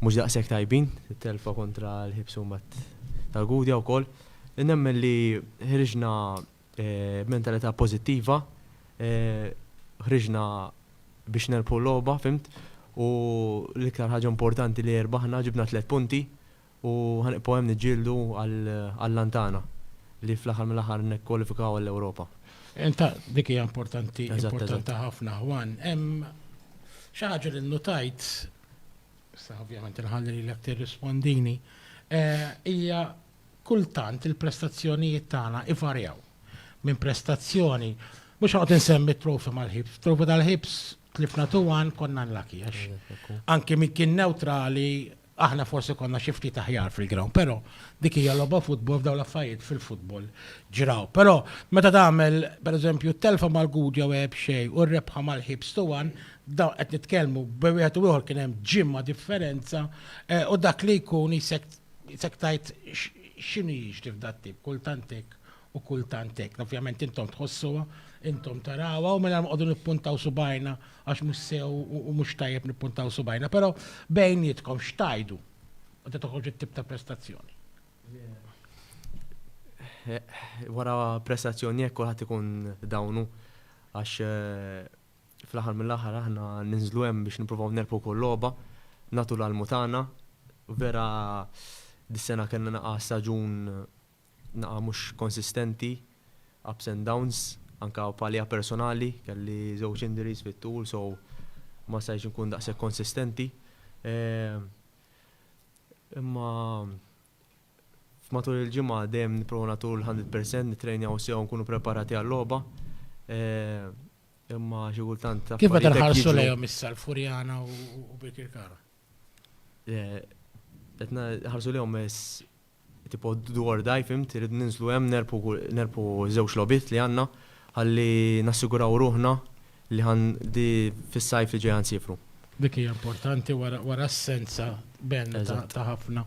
mhux daqshekk tajbin, it-telfa kontra l-Ħiebs u mbagħad tal-Gudja wkoll. Nemmen li ħriġna Mentalità pożittiva, ħriġna biex nerbħu l-logħba, fhimt, u l-iktar ħaġa importanti li rbaħna ġibna tliet punti u ħanibqgħu hemm niġġieldu għall-għan tagħna li fl-aħħar mill-aħħar nikkwalifikaw għall-Ewropa. Ta' dik hija importanti, importanti ħafna Juan. Hemm xi ħaġa li nnutajt, issa ovvjament inħalli lilek tirrispondini, hija Kultant il-prestazzjonijiet tagħna ivarjaw minn prestazzjoni, mhux ħanoqgħod insemmi t-Trophy mal-Hibs, Trophy tal-Hibs tlifna 2-1 konna unlucky għax anke min kien newtrali aħna forsi konna xi ftit aħjar fil-ground, però dik hija logħba futbol f'dawn l-affarijiet fil-futbol ġraw. Però meta tagħmel pereżempju telfa mal-Gudja u għeb xejn u rebħa mal-Hibs 2-1, dawn qed nitkellmu bejn wieħed u ieħor kien hemm ġimgħa differenza u dak li jkun qisek Isek tgħid x'inhu jiġri f'dat-tip, kultant hekk u kultant hekk. Ovvjament intom tħossuha, intom tarawha u mingħajr ma noqogħdu nippuntaw subajna għax mhux sew u mhux tajjeb nippuntaw subajna, però bejnietkom x'tgħidu meta toħroġ it-tip ta' prestazzjoni? Wara prestazzjoni hekk kulħadd ikun dawnu għax Fl-aħħar mill-aħħar aħna ninżlu hemm biex nippruvaw nerbħu kull logħba, nagħtu l-almu tagħna. Vera dis-sena kellna naqgħa staġun naqgħa mhux konsistenti, ups and downs, anke bħalija personali, kelli żewġ injuries fit-tul so ma stajtx inkun daqshekk konsistenti. Imma F'matul il-ġimgħa dejjem nipprovaw nagħtu l-hundred percent, nittrejnjaw sew nkunu preparati għal-logħba. Imma xi kultant affarijiet. Kif meta nħarsu lejhom issa l-Furjana u Birkirkara? Qed nħarsu lejhom tipo do or die, fhimt? Irridu ninżlu hemm, nerbħu żewġ logħbiet li għandna ħalli nassiguraw ruħna li ħa di fis-sajf li ġej ħa nsiefru. Dik hija importanti wara assenza Ben ta' ħafna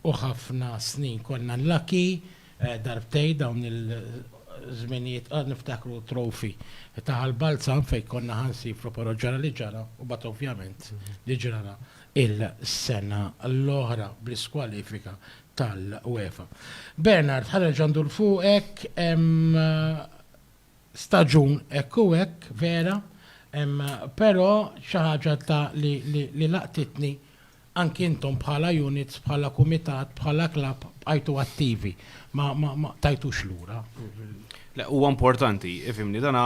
u ħafna snin. Konna lucky darbtejn dawn il-żminijiet qa niftakru t-trophy ta' Ħal Balzan fejn konna ħa nsiefru però ġara li ġara u mbagħad ovvjament li ġrara il-sena l-oħra bl-iskwalifika tal-UEFA. Bernard ħa nerġa' ndur fuqek hemm staġun hekk u hekk vera, però xi ħaġa ta' li li laqtitni anki intom bħala units, bħala kumitat, bħala klabb bqajtu attivi, ma ma tajtux lura. Le huwa importanti, ifhimni, dan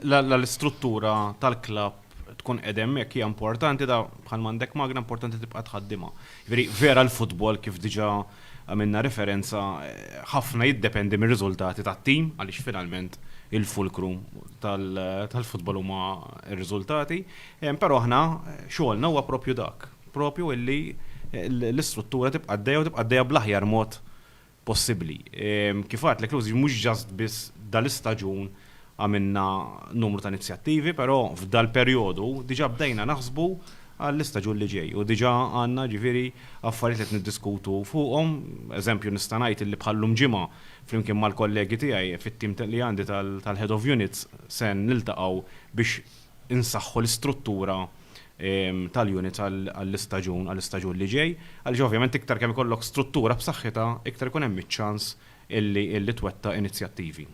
la l-istruttura tal-klabb tkun qegħda hemmhekk hija importanti da bħalma għandek magna importanti tibqa' tħaddimha. Jiġifieri vera l-futbol kif diġà għamilna referenza, ħafna jiddependi mir-riżultati tat-tim għaliex finalment il-fulkru tal-futbol huma r-riżultati, però aħna xogħolna huwa proprju dak, proprju illi l-istruttura tibqa' għaddejja u tibqa' għaddejja bl-aħjar mod possibbli. Kif għedtlek, Luis, mhux just biss dal-istaġun, Għamilna numru ta' inizjattivi, però f'dal-perjodu diġà bdejna naħsbu għall-istaġun li ġej u diġà għandna jiġifieri affarijiet li qed niddiskutu fuqhom. Eżempju nista' ngħid illi bħal llum Ġimgħa flimkien mal-kollegi tiegħi fit-tim li għandi tal-Head of Units se niltaqgħu biex insaħħu l-istruttura tal-units għall-istaġun għall-istaġun li ġej. Għaliex ovvjament iktar kemm ikollok struttura b'saħħitha iktar ikun hemm iċ-ċans illi twettaq inizjattivi.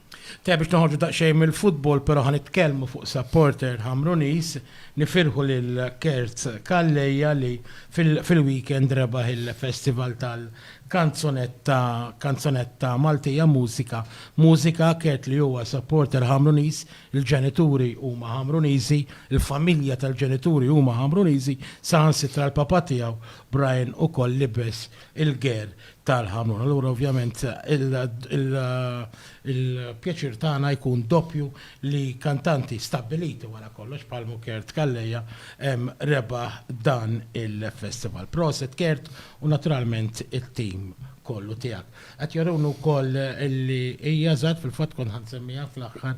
Tajjeb biex noħorġu daqsxejn mill-futbol pero ħa nitkellmu fuq supporter Ħamruniż, nifirħu lil Kerz Calleja li fil-weekend rebaħ il-festival tal-kanzunetta kanzunetta Maltija Mużika Mużika, Kert li huwa supporter Ħamruniż, il-ġenituri huma Ħamruniżi, il-familja tal-ġenituri huma Ħamruniżi, saħansitra l-papà tiegħu Brian ukoll libes il-ger tal-ħamrun. Allura ovvjament il-pjaċir tagħna jkun doppju li kantanti stabbiliti wara kollox bħal Kert Calleja rebaħ dan il-festival. Proset Kert u naturalment it-tim kollu tiegħek. Qed juruni wkoll li hija żgħat fil-fatt kont ħa nsemmiha fl-aħħar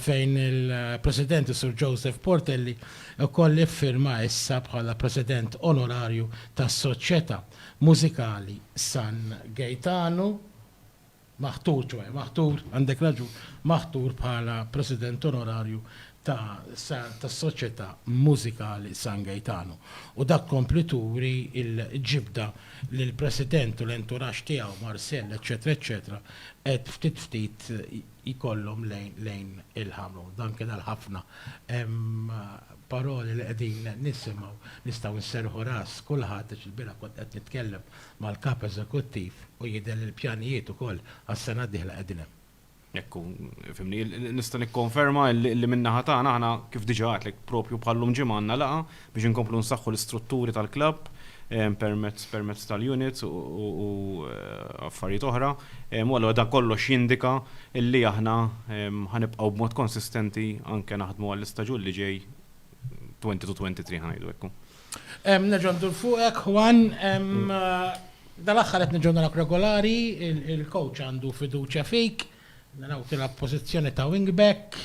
fejn il-President Sur Joseph Portelli wkoll iffirma issa bħala President Onorarju tas-Soċjetà. Mużikali San Gejtanu, maħtur, ċoe, maħtur, għandek raġun, maħtur bħala President Onorarju ta' tas-Soċjetà Mużikali San Gejtanu. U dak tkompli turi l-ġibda li l-President u l-enturaxx tiegħu, Marcel, eċċetera, eċċetera, qed ftit ftit jkollhom lejn il-ħamrun. Dan kien għal ħafna. Hemm paroli li qegħdin nisimgħu, nistgħu nserrħu ras kulħadd għax ilbieraħ kont qed nitkellem mal-Kap Eżekuttiv u jidher li l-pjanijiet ukoll għas-sena d-dieħla qegħdin hemm. Hekk hu, fhimni. Nista' nikkonferma li min-naħa tagħna aħna, kif diġà għedtlek, propju bħal-lum ġimgħa għandna laqgħa biex inkomplu nsaħħu l-istrutturi tal-klabb permezz permezz tal-units u affarijiet oħra. U allura dan kollox jindika li aħna ħa nibqgħu b'mod konsistenti anke naħdmu għall-istaġun li ġej, 2022 ħa ngħidu hekk hu. Nerġa' ndur fuqek, Juan. Dal-aħħar qed nerġgħu narawk regolari, il-coach għandu fiduċja fik. Mela hu tilgħab pożizzjoni ta' wing back,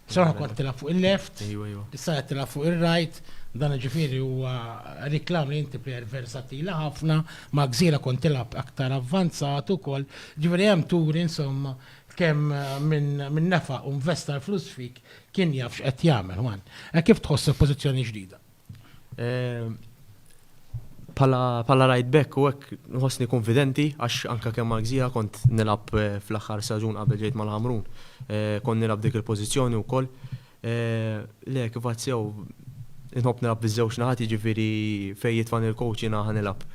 b'saħħa kont tilgħab fuq il-left, issa qed tilgħab fuq ir-right, dan ġifieri huwa riklam li inti plejer versattili ħafna, ma' Gżira kont tilgħab aktar avvanzat ukoll, ġifieri hemm turi insomma kemm min nefaq u nvesta l-flus fik kien jaf x'qed jagħmel. Hekk kif tħoss il-pożizzjoni ġdida? Ehm, pala right back u hekk nħossni konfidenti għax anka kemm għagżija kont nilab eh, fl-aħħar saġun qabel ġejt mal-Ħamrun. Eh, kont nilab dik il-pożizzjoni wkoll. Eh, le kif għazzew nħobb nilab biż-żewġ naħat jiġifieri fejn jitfan il-coach jiena nilab.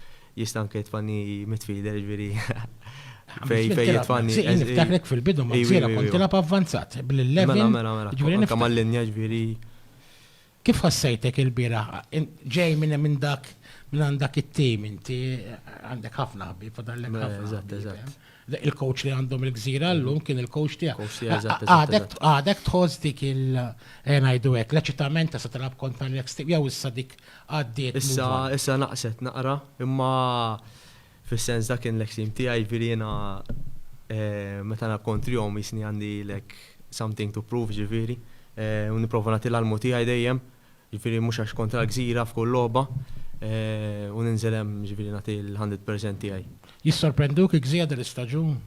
Jista' anke jitfani midfielder jiġifieri fej fej jitfani. Niftakrek fil-bidu ma' kont tilab avvanzat bil-11. Mela, mela, mela. Kammal linja ġviri. Kif ħassejtek ilbieraħ? Int ġej minn minn dak minn għand dak it-tim inti għandek ħafna ħbieb fadallek ħafna. Eżatt, eżatt. Il-coach li għandhom il-Gżira llum kien il-coach tiegħek. Coach tiegħi, eżatt, eżatt, Għadek eżatt. għadek tħoss dik il ejja ngħidu hekk l-eċitament ta' se tilgħab kontra l-eks tim jew issa dik għaddiet move Issa, on? issa naqset naqra, imma Fis-sens dak kien l-extreme tiegħi, jiġifieri jiena meta nilgħab kontrihom jisni għandi like something to prove jiġifieri u nipprova nagħti l-almu tiegħi dejjem, jiġifieri mhux għax kontra l-gżira f'kull logħba u ninżel hemm jiġifieri nagħti l-hundred percent tiegħi. Jissorprenduk il-gżira dal-istaġun?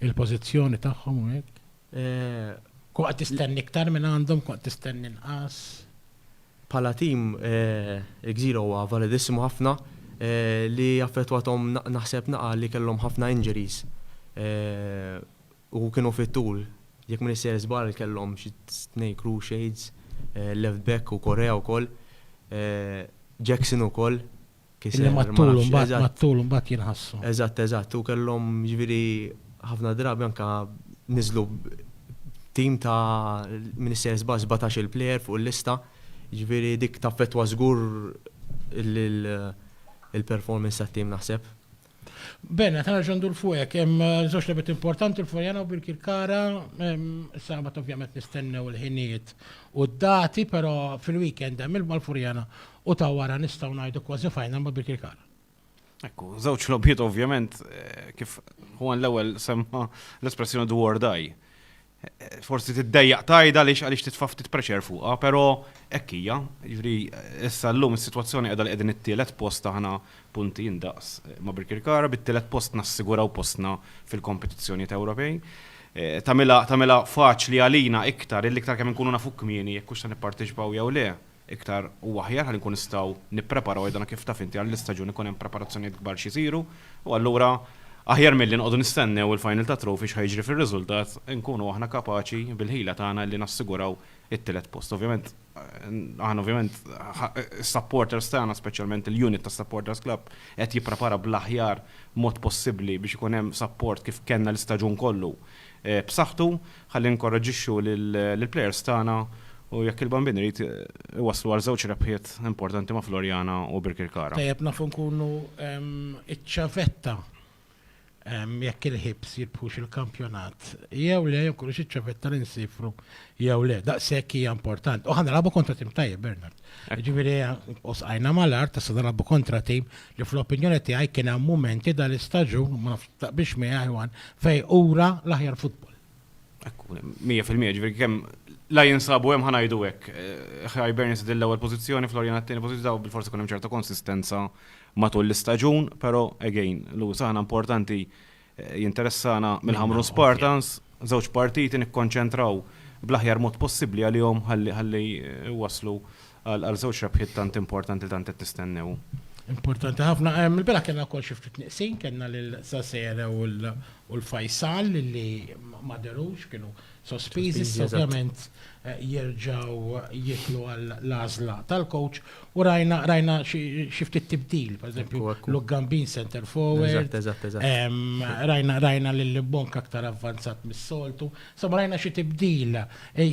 Il-pożizzjoni tagħhom u hekk? Kun qed tistenni iktar minn għandhom, kun qed tistenni inqas. Bħala tim, il-Gżira huwa validissimu ħafna li affettwathom naħseb naqgħa li kellhom ħafna injuries u kienu fit-tul. Jekk m'iniex sejjer żball kellhom xi tnej cruciates, left back u Correa wkoll, Jackson ukoll, Illi mat-tul imbagħad, mat-tul imbagħad jinħassu. Eżatt, eżatt. U kellhom jiġifieri ħafna drabi anke niżlu b'tim ta' minn issa jiżball sbatax-il plejer fuq il-lista, jiġifieri dik taffettwa żgur il-performance tat-tim naħseb. Bene, ta' nerġa' ndur fuq hekk. Hemm żewġ lebet importanti l-Forjana u Birkirkara. Sabat ovvjament nistennew il-ħinijiet u d-dati, però fil-weekend hemm ilma l-Furjana u ta' wara nistgħu ngħidu kważi final ma' Birkirkara. Ekku, żewġ logħbiet ovvjament kif Juan l-ewwel semma l-espressjoni do or die. Forsi tiddejjaq tgħidha għaliex għaliex titfa' ftit pressure fuqha, però hekk hija. Jiġifieri issa llum is-sitwazzjoni qiegħda li qegħdin it-tielet post aħna punti indaqs ma' Birkirkara, bit-tielet post nassiguraw postna fil-kompetizzjonijiet Ewropej. Tagħmilha tagħmilha faċli għalina iktar illi iktar kemm inkunu nafu kmieni jekk hux se nipparteċipaw jew le. iktar u aħjar ħalli nkunu nistgħu nippreparaw għidana kif taf inti għall-istaġun ikun hemm preparazzjonijiet kbar x'isiru u allura aħjar milli noqogħdu nistennew il-final ta' Trophy x'ħajġri fir-riżultat inkunu aħna kapaċi bil-ħila tagħna illi nassiguraw it-tielet post. Ovvjament aħna ovvjament is-supporters tagħna speċjalment il-unit tas-supporters club qed jipprepara bl-aħjar mod possibbli biex ikun hemm support kif kellna l-istaġun kollu b'saħħtu Ħalli ninkoraġġixxu lill-plejers tagħna u jekk il-Bambin irid, iwasslu għal żewġ rebħiet importanti ma' Floriana u Birkirkara. Tajjeb nafu nkunu ċ-ċavetta jekk il-Hibs jirbħux il-kampjonat jew le, jew nkunu ċ-ċavetta li nsiefru jew le. Daqshekk hija importanti. U ħa nilagħbu kontra tim tajjeb, Bernard. Jiġifieri u sqajna mal-art, issa nilagħbu kontra tim li fl-opinjoni tiegħi kien hemm mumenti dal-istaġun, ma nafx Taqbilx miegħi Iwan, fej ura l-aħjar futbol. Ekku, 100% ġifieri kemm la jinsabu hemm ħanajdu hekk. Hibernian eh, dil-ewwel pożizzjoni, Florian għat-tieni pożizzjoni bil-forsi kun hemm ċerta konsistenza matul l-istaġun, però again, Lewis aħna importanti eh, jinteressana mill-ħamru Spartans, żewġ partiti nikkonċentraw bl-aħjar mod possibbli għalihom ħalli eh, waslu Għal żewġ rebħiet tant importanti li tant qed nistennew. Importanti ħafna. Il-bieraħ kellna wkoll xi ftit nieqsin, kellna lil Sasere u l-Faisal li ma dherux, kienu sospiżi. Ovvjament jerġgħu jidħlu għall-għażla tal-coach u rajna xi ftit tibdil, pereżempju, Luke Gambin center forward. Rajna lil Mbonka aktar avvanzat mis-soltu. Sa ma rajna xi tibdil,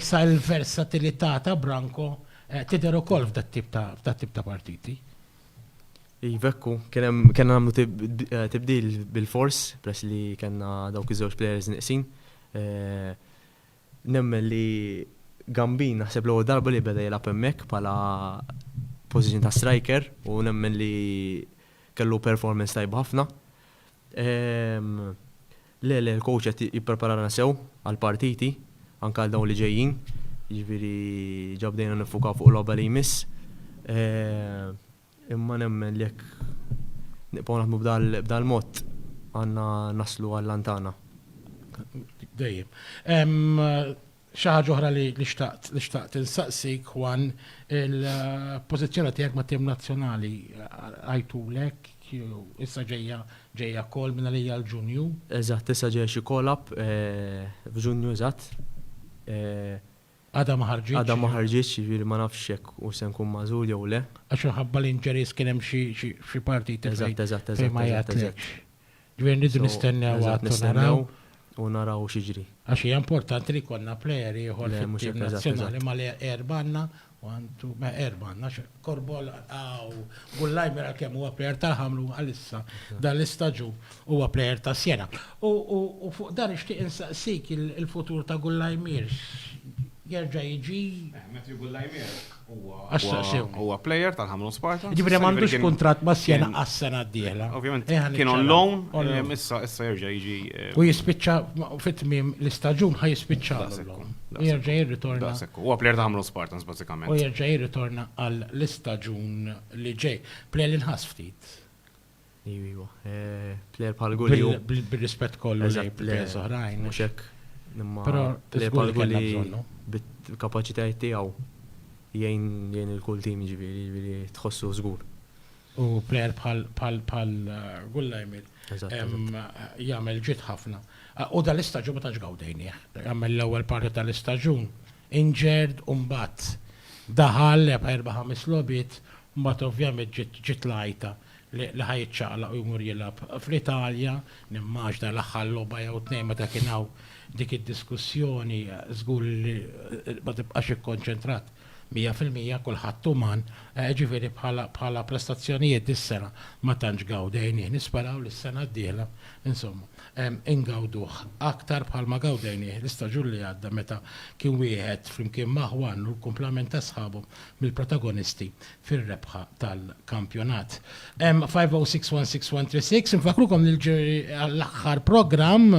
sa l-versatilità ta' Branco tidher ukoll f'dat-tip ta' partiti. Iva hekk hu, kien hemm, kellna nagħmlu tibdil bilfors peress li kellna dawk iż-żewġ players nieqsin. Nemmen li Gambin naħseb l-ewwel darba li beda jilgħab hemmhekk bħala position ta' striker u nemmen li kellu performance tajba ħafna. Le, le, il-coach qed jippreparana sew għall-partiti, anke għal dawn li ġejjin, jiġifieri ġa bdejna niffukaw fuq il-logħba li jmiss. Imma nemmen li jekk nibqgħu naħdmu b'dal-mod għandna naslu għal-għan tagħna. Dejjem. Xi ħaġa oħra li xtaqt li xtaqt insaqsik Juan, il-pożizzjoni tiegħek mat-tim nazzjonali għajtulek jew issa ġejja ġejja call minn għalija l-Ġunju? Eżatt, issa ġejja xi call up f'Ġunju eżatt. Għadha ma ħarġitx? Għadha ma ħarġitx, jiġifieri ma nafx jekk hux se nkun magħżul jew le. Għax minħabba l-injuries kien hemm xi xi partiti fejn ma jgħatlekx. Ġifieri rridu nistennew għad u naraw. U naraw x'jiġri. Għax hija importanti li jkollna plejer ieħor fit-tim nazzjonali ma li erba' għandna, one, two, erba' għandna għax Korbol u Gullajmer għalkemm huwa plejer tal-Ħamrun għalissa dan l-istaġun huwa plejer ta' Siena. U fuq dan nixtieq insaqsik il-futur ta' Gullajmier jerġa' jiġi? Matthew Gullajmier Huwa player tal-Ħamrun Sparta. Ġifieri m'għandux kuntratt ma' Siena għas-sena d-dieħla. Ovvjament kien on loan, issa issa jerġa' jiġi. U jispiċċa fit-tmiem l-istaġun ħa jispiċċa. Jerġa' jirritorna. Huwa player ta' Ħamrun Spartans bażikament. U jerġa' jirritorna għall-istaġun li ġej. Player li nħass ftit. Iva, iva. Eh, player bħal Gulli. Bil-rispett kollu lejn players oħrajn. Mhux hekk. Imma player bħal Gulli bit-kapaċitajiet tiegħu jgħin il-kull tim ġifieri, ġifieri tħossu żgur. U player bħal Gulla jmil. Jagħmel ġid ħafna. U dal-istaġun ma tantx gawdejni. Jagħmel l-ewwel parti tal-istaġun. Injured u mbagħad daħal erba' ħames logħbiet Mbagħad ovvjament ġiet ġiet l-għajta li li ħa jiċċaqlaq u jmur jilgħab fl-Italja, nimmaġna l-aħħar logħba jew tnejn meta kien hawn dik id-diskussjoni żgur li ma tibqax ikkonċentrat mija fil-mija, kulħadd uman, jiġifieri bħala bħala prestazzjonijiet dis-sena ma tantx gawdejnih, nisperaw li s-sena d-dieħla insomma ingawduh aktar bħalma gawdejnih l-istaġun li għadda meta kien wieħed flimkien ma' ħwanu l-kumplament ta' sħabu mill-protagonisti fir-rebħa tal-kampjonat. 5061613 Infakrukom li l-ġuri għall-aħħar programm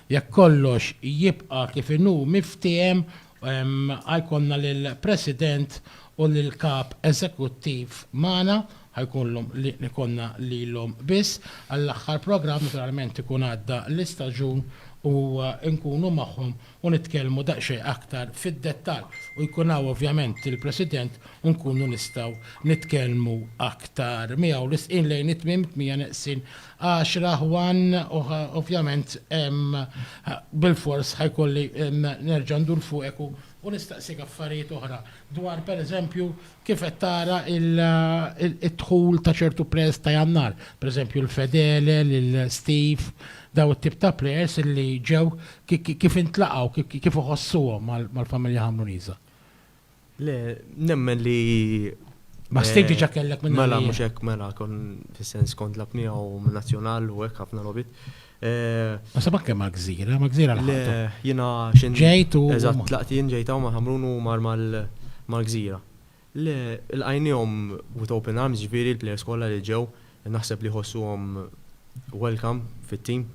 jekk kollox jibqa' kif inhu miftiem għajkonna lill-President u lill-Kap Eżekuttiv magħna ħajkunlhom li nikonna lilhom biss għall-aħħar programm naturalment ikun għadda l-istaġun u nkunu magħhom u nitkellmu daqsxejn aktar fid-dettall u jkun hawn ovvjament il-President u nkunu nistgħu nitkellmu aktar miegħu. Risqin lejn it-tmiem, tmija neqsin għaxra, Juan, u ovvjament bilfors ħa jkolli nerġa' ndur fuqek u nistaqsik affarijiet oħra dwar pereżempju Kif qed tara d-dħul ta' ċertu plejers ta' Jannar, per eżempju lil Fedele, lil Steve, dawn it-tip ta' plejers li ġew kif intlaqgħu, kif iħossuhom mal-familja Ħamruniża? Le, nemmen li. Ma' Steve diġà kellek minn. Mela mhux hekk, mela kont fis-sens kont nilgħab miegħu minn Nazzjonal u hekk ħafna logħbiet. Ma sabak kemm għagżira, ma gżira l-ħabta. Jina xin. Ġejtu. Eżat, tlaqtin ġejtaw ma ħamrun u mar mal-gżira. Le, il-għajnijom with open arms ġviri l-players kolla li ġew, naħseb li ħossu għom welcome fit-team.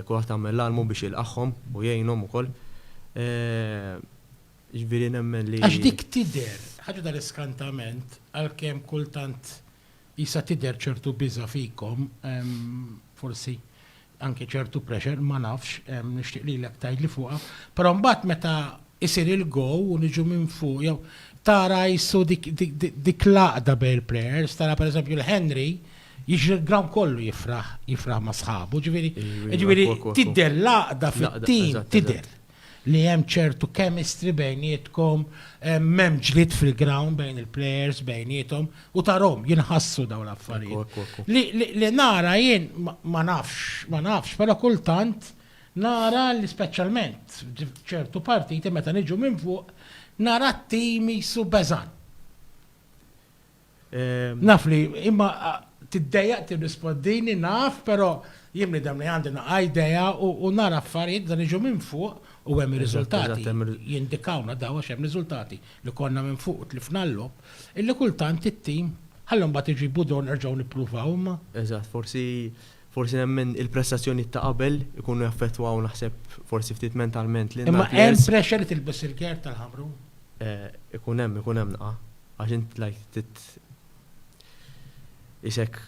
Kulat għamel l-almu biex il-qaħħom u jgħinom u koll. Ġviri nemmen li. Għax dik tider, ħagġa dal-iskantament, għal-kem kultant. Qisha tidher ċertu biża' fikom, forsi anke ċertu pressure, ma nafx, nixtieq lilek tgħidli fuqha, però mbagħad meta jsir il-goal u niġu minn fuq jew tara qissu dik l-għaqda bejn il-players, tara pereżempju l-Henry jiġri l-ground kollu jifraħ, jifraħ ma' sħabu, ġifieri tidher l-għaqda fit-tim, tidher. li hemm ċertu chemistry bejnietkom, m'hemm ġlied fil-ground bejn il-players bejniethom u tarahom jinħassu dawn l-affarijiet. Li nara jien ma nafx, ma nafx, però kultant nara li speċjalment f'ċertu partiti meta niġu minn fuq nara t-tim qisu beżgħan. Naf li imma tiddejjaq tirrispoddini naf, però jien bniedem li għandi naqa' idea u nara affarijiet dan jiġu minn fuq u hemm ir-riżultati jindikawna daw għax hemm riżultati li konna minn fuq u tlifna l-logħob illi kultant it-tim ħalli mbagħad iġibu dawn nerġgħu nippruvaw imma. Eżatt, forsi forsi nemmen il-prestazzjonijiet ta' qabel ikunu jaffettwaw naħseb forsi ftit mentalment lil. Imma hemm pressure li tilbes il-gerd tal-ħamrun? Ikun hemm, ikun hemm naqa'. Għax int like tit isek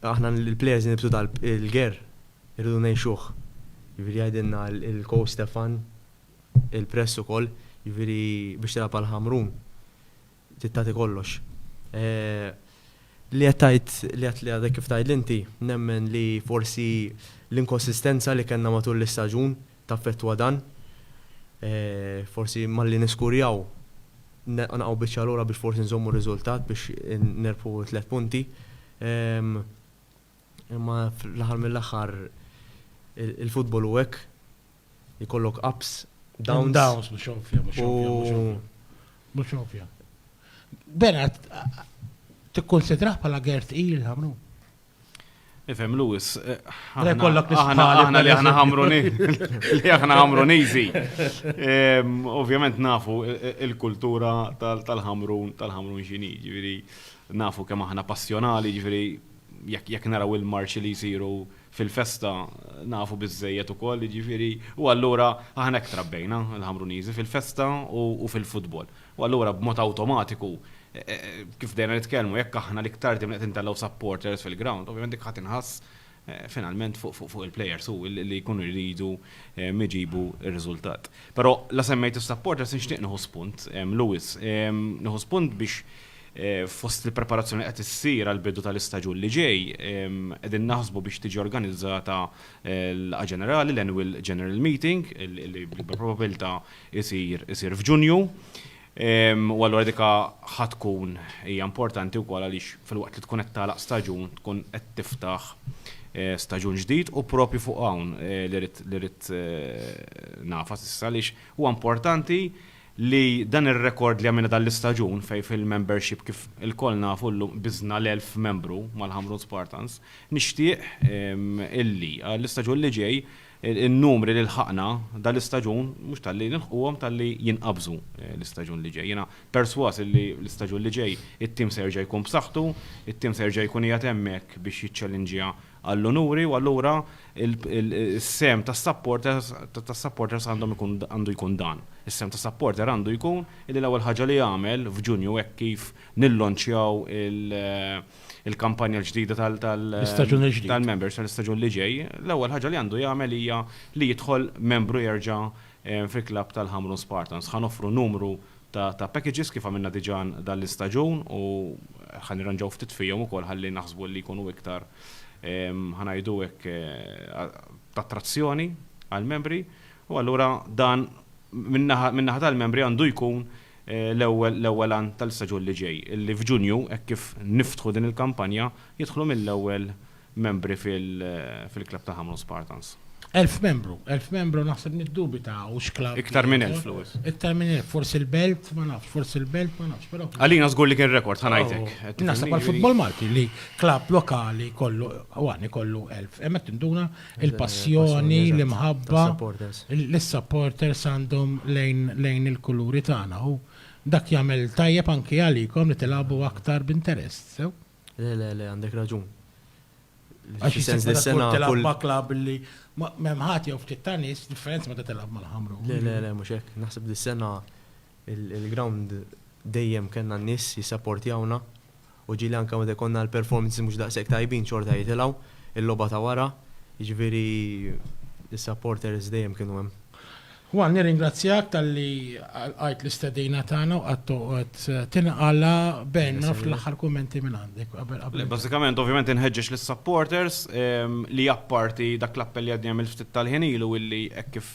aħna l-plejers nibsu tal il-ger irridu ngħixuh. Jiġifieri jgħidilna il-coach Stefan il-press ukoll, jiġifieri biex tilgħab għal Ħamrun trid tagħti kollox. Li qed tgħid li qed li għadek kif tgħidli inti nemmen li forsi l-inkonsistenza li kellna matul l-istaġun taffettwa dan. Forsi malli niskurjaw nqanqgħu biċċa lura biex forsi nżommu r-riżultat biex nerbħu tliet punti. Imma fl-aħħar mill-aħħar il-futbol hu hekk, ikollok ups, downs. Downs, mhux ovvja, mhux ovvja, mhux ovvja. Mhux ovvja. Bernard, tikkunsidrah bħala Gert il, Ħamrun? Ifem Lewis, aħna li aħna ħamruni, li aħna ħamrunizi. Ovvjament nafu il-kultura tal-ħamrun, tal-ħamrun xini, ġviri, nafu kemm aħna passjonali, ġviri, jekk naraw il-marċi li jisiru fil-festa, nafu bizzejet u koll, ġviri, u għallura aħna ektrabbejna l-ħamrunizi fil-festa u fil-futbol. U allura b'mod awtomatiku, kif bdejna nitkellmu, jekk aħna l-iktar dejjem qed intellgħu supporters fil-ground, ovvjament dik ħa tinħass finalment fuq il-players u li jkunu jridu jġibu r-riżultat. Però la semmejt is-supporters nixtieq nieħu spunt, Lewis, nieħu spunt biex fost il-preparazzjoni li qed issir għall-bidu tal-istaġun li ġej, qegħdin naħsbu biex tiġi organizzata l-laqgħa ġenerali, l-annual general meeting, li b'probabbiltà isir isir f'Ġunju. U allura dik ħa tkun hija importanti wkoll għaliex filwaqt li tkun qed tagħlaq staġun tkun qed tiftaħ staġun ġdid u proprju fuq hawn li rrid li rrid ngħafas issa għaliex huwa importanti li dan ir-rekord li għamilna dan l-istaġun fejn fil-membership kif ilkoll nafu llum biżna l-elf membru mal-Ħamrun Spartans nixtieq illi għall-istaġun li ġej In-numri li lħaqna dan l-istaġun mhux talli nilħquhom talli jinqabżu l-istaġun li ġej. Jiena persważ illi l-istaġun li ġej it-tim se jerġa' jkun b'saħħtu, it-tim se jerġa' jkun qiegħed hemmhekk biex jiċċellinġja għall-unuri u allura s-sehem tas-supporters tas-supporters għandhom ikun għandu jkun dan. Is-sehem ta' supporter għandu jkun illi l-ewwel ħaġa li jagħmel f'Ġunju hekk kif nillonċjaw il- il-kampanja l-ġdida tal-members tal-istaġun li ġej, l-ewwel ħaġa li għandu jagħmel hija li jidħol membru jerġa' eh, fil-klabb tal-Ħamrun Spartans. Ħan offru numru ta' packages kif għamilna diġà dan l-istaġun u ħan irranġaw ftit fihom ukoll ħalli naħsbu li jkunu iktar ħanajdu hekk eh, ta' trazzjoni għal-membri U allura dan min-naħa tal-Membri għandu jkun l-ewwel għan tal-istaġun li ġej, li f'Ġunju, hekk kif niftħu din il-kampanja, jidħlu mill-ewwel Membri fil-klabb ta' Ħamrun Spartans. Elf Membru, elf Membru naħseb niddubita hux klabb. Iktar minn elf, Louis. Iktar minn elf, forsi l-Belt, ma nafx, forsi l-Belt, ma nafx, però. Għalina żgur li kien rekord, ħa ngħidlek. Naħseb għall-futbol Malti li klabb lokali jkollu, u għan ikollu elf, hemmhekk tinduna il-passjoni, l-imħabba li s-supporters għandhom lejn il-kuluri tagħna u dak jagħmel tajjeb anki għalikom li tilagħbu aktar b'interess, sew? Le, le, le, għandek raġun. Għax is-sens li s-sena kull. Tilgħab ma' klabb li m'hemm ħadd jew ftit ta' nies, differenza meta tilgħab mal-Ħamrun. Le, le, le, mhux hekk. Naħseb li s-sena il-grawnd dejjem kellna n-nies jissapportjawna U ġieli anke meta jkollna l-performances mhux daqshekk tajbin xorta jitilgħu il-logħba ta' wara, jiġifieri s-supporters dejjem kienu hemm. Juan, nirringrazzjak talli lqajt l-istedina tagħna u qgħadt toqgħod tinqala' b'għin. Ma nafx l-aħħar kummenti minn għandek qabel qabel. Le, bażikament ovvjament inħeġġeġ lis-supporters li apparti dak l-appell li għadni għamilt ftit tal-ħin ilu illi hekk kif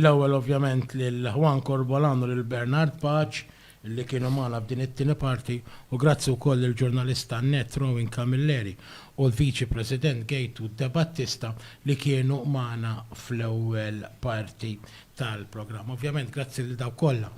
L-ewwel ovvjament lil Juan Corbolan u lil Bernard Paċ li kienu magħna f'din it-tieni parti u grazzi wkoll lill-ġurnalista Annette Rowing Camilleri u l-Viċi President Gaytu Debattista li kienu magħna fl-ewwel parti tal-programm. Ovvjament grazzi lil dawk kollha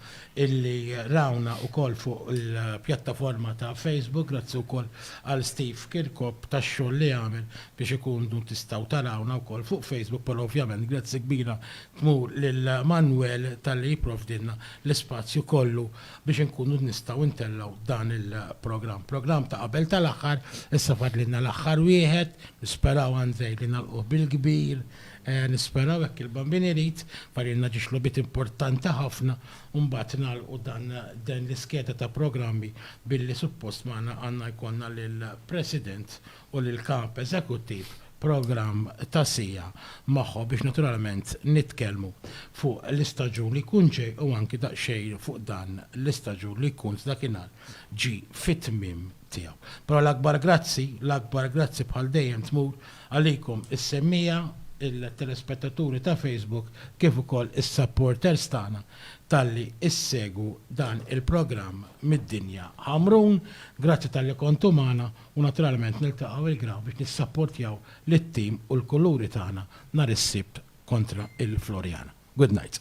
illi rawna wkoll fuq il-pjattaforma ta' Facebook, grazzi wkoll għal Steve Kirkop tax-xogħol li għamel biex ikunu tistgħu tarawna wkoll fuq Facebook però ovvjament grazzi kbira tmur lil Manwel talli jipprovdilna l-ispazju kollu biex inkunu nistgħu ntellgħu dan il-programm. Programm ta' qabel tal-aħħar, issa fadlilna l-aħħar wieħed, nisperaw Andrej li nagħlquh bil-kbir, nisperaw hekk il-Bambin irid, fadlilna ġiex logħbiet importanti ħafna u mbagħad nagħlqu dan din l-iskeda ta' programmi billi suppost magħna għandna jkollna lill-President u lill-Kap Eżekuttiv programm ta' siegħa magħhom biex naturalment nitkellmu fuq l-istaġun li jkun ġej u anki daqsxejn fuq dan l-istaġun li jkun sdakinhar ġie fit-tmiem tiegħu. Però l-akbar grazzi, l-akbar grazzi bħal dejjem tmur għalikom is-semmiegħa, il-telespettaturi ta' Facebook kif ukoll is-supporters tagħna talli ssegwu dan il-programm mid-dinja. Ħamrun, grazzi talli kontu magħna u naturalment niltaqgħu il-ground biex nissapportjaw lit-tim u l-kuluri tagħna nhar is-Sibt kontra il-Floriana. Good night.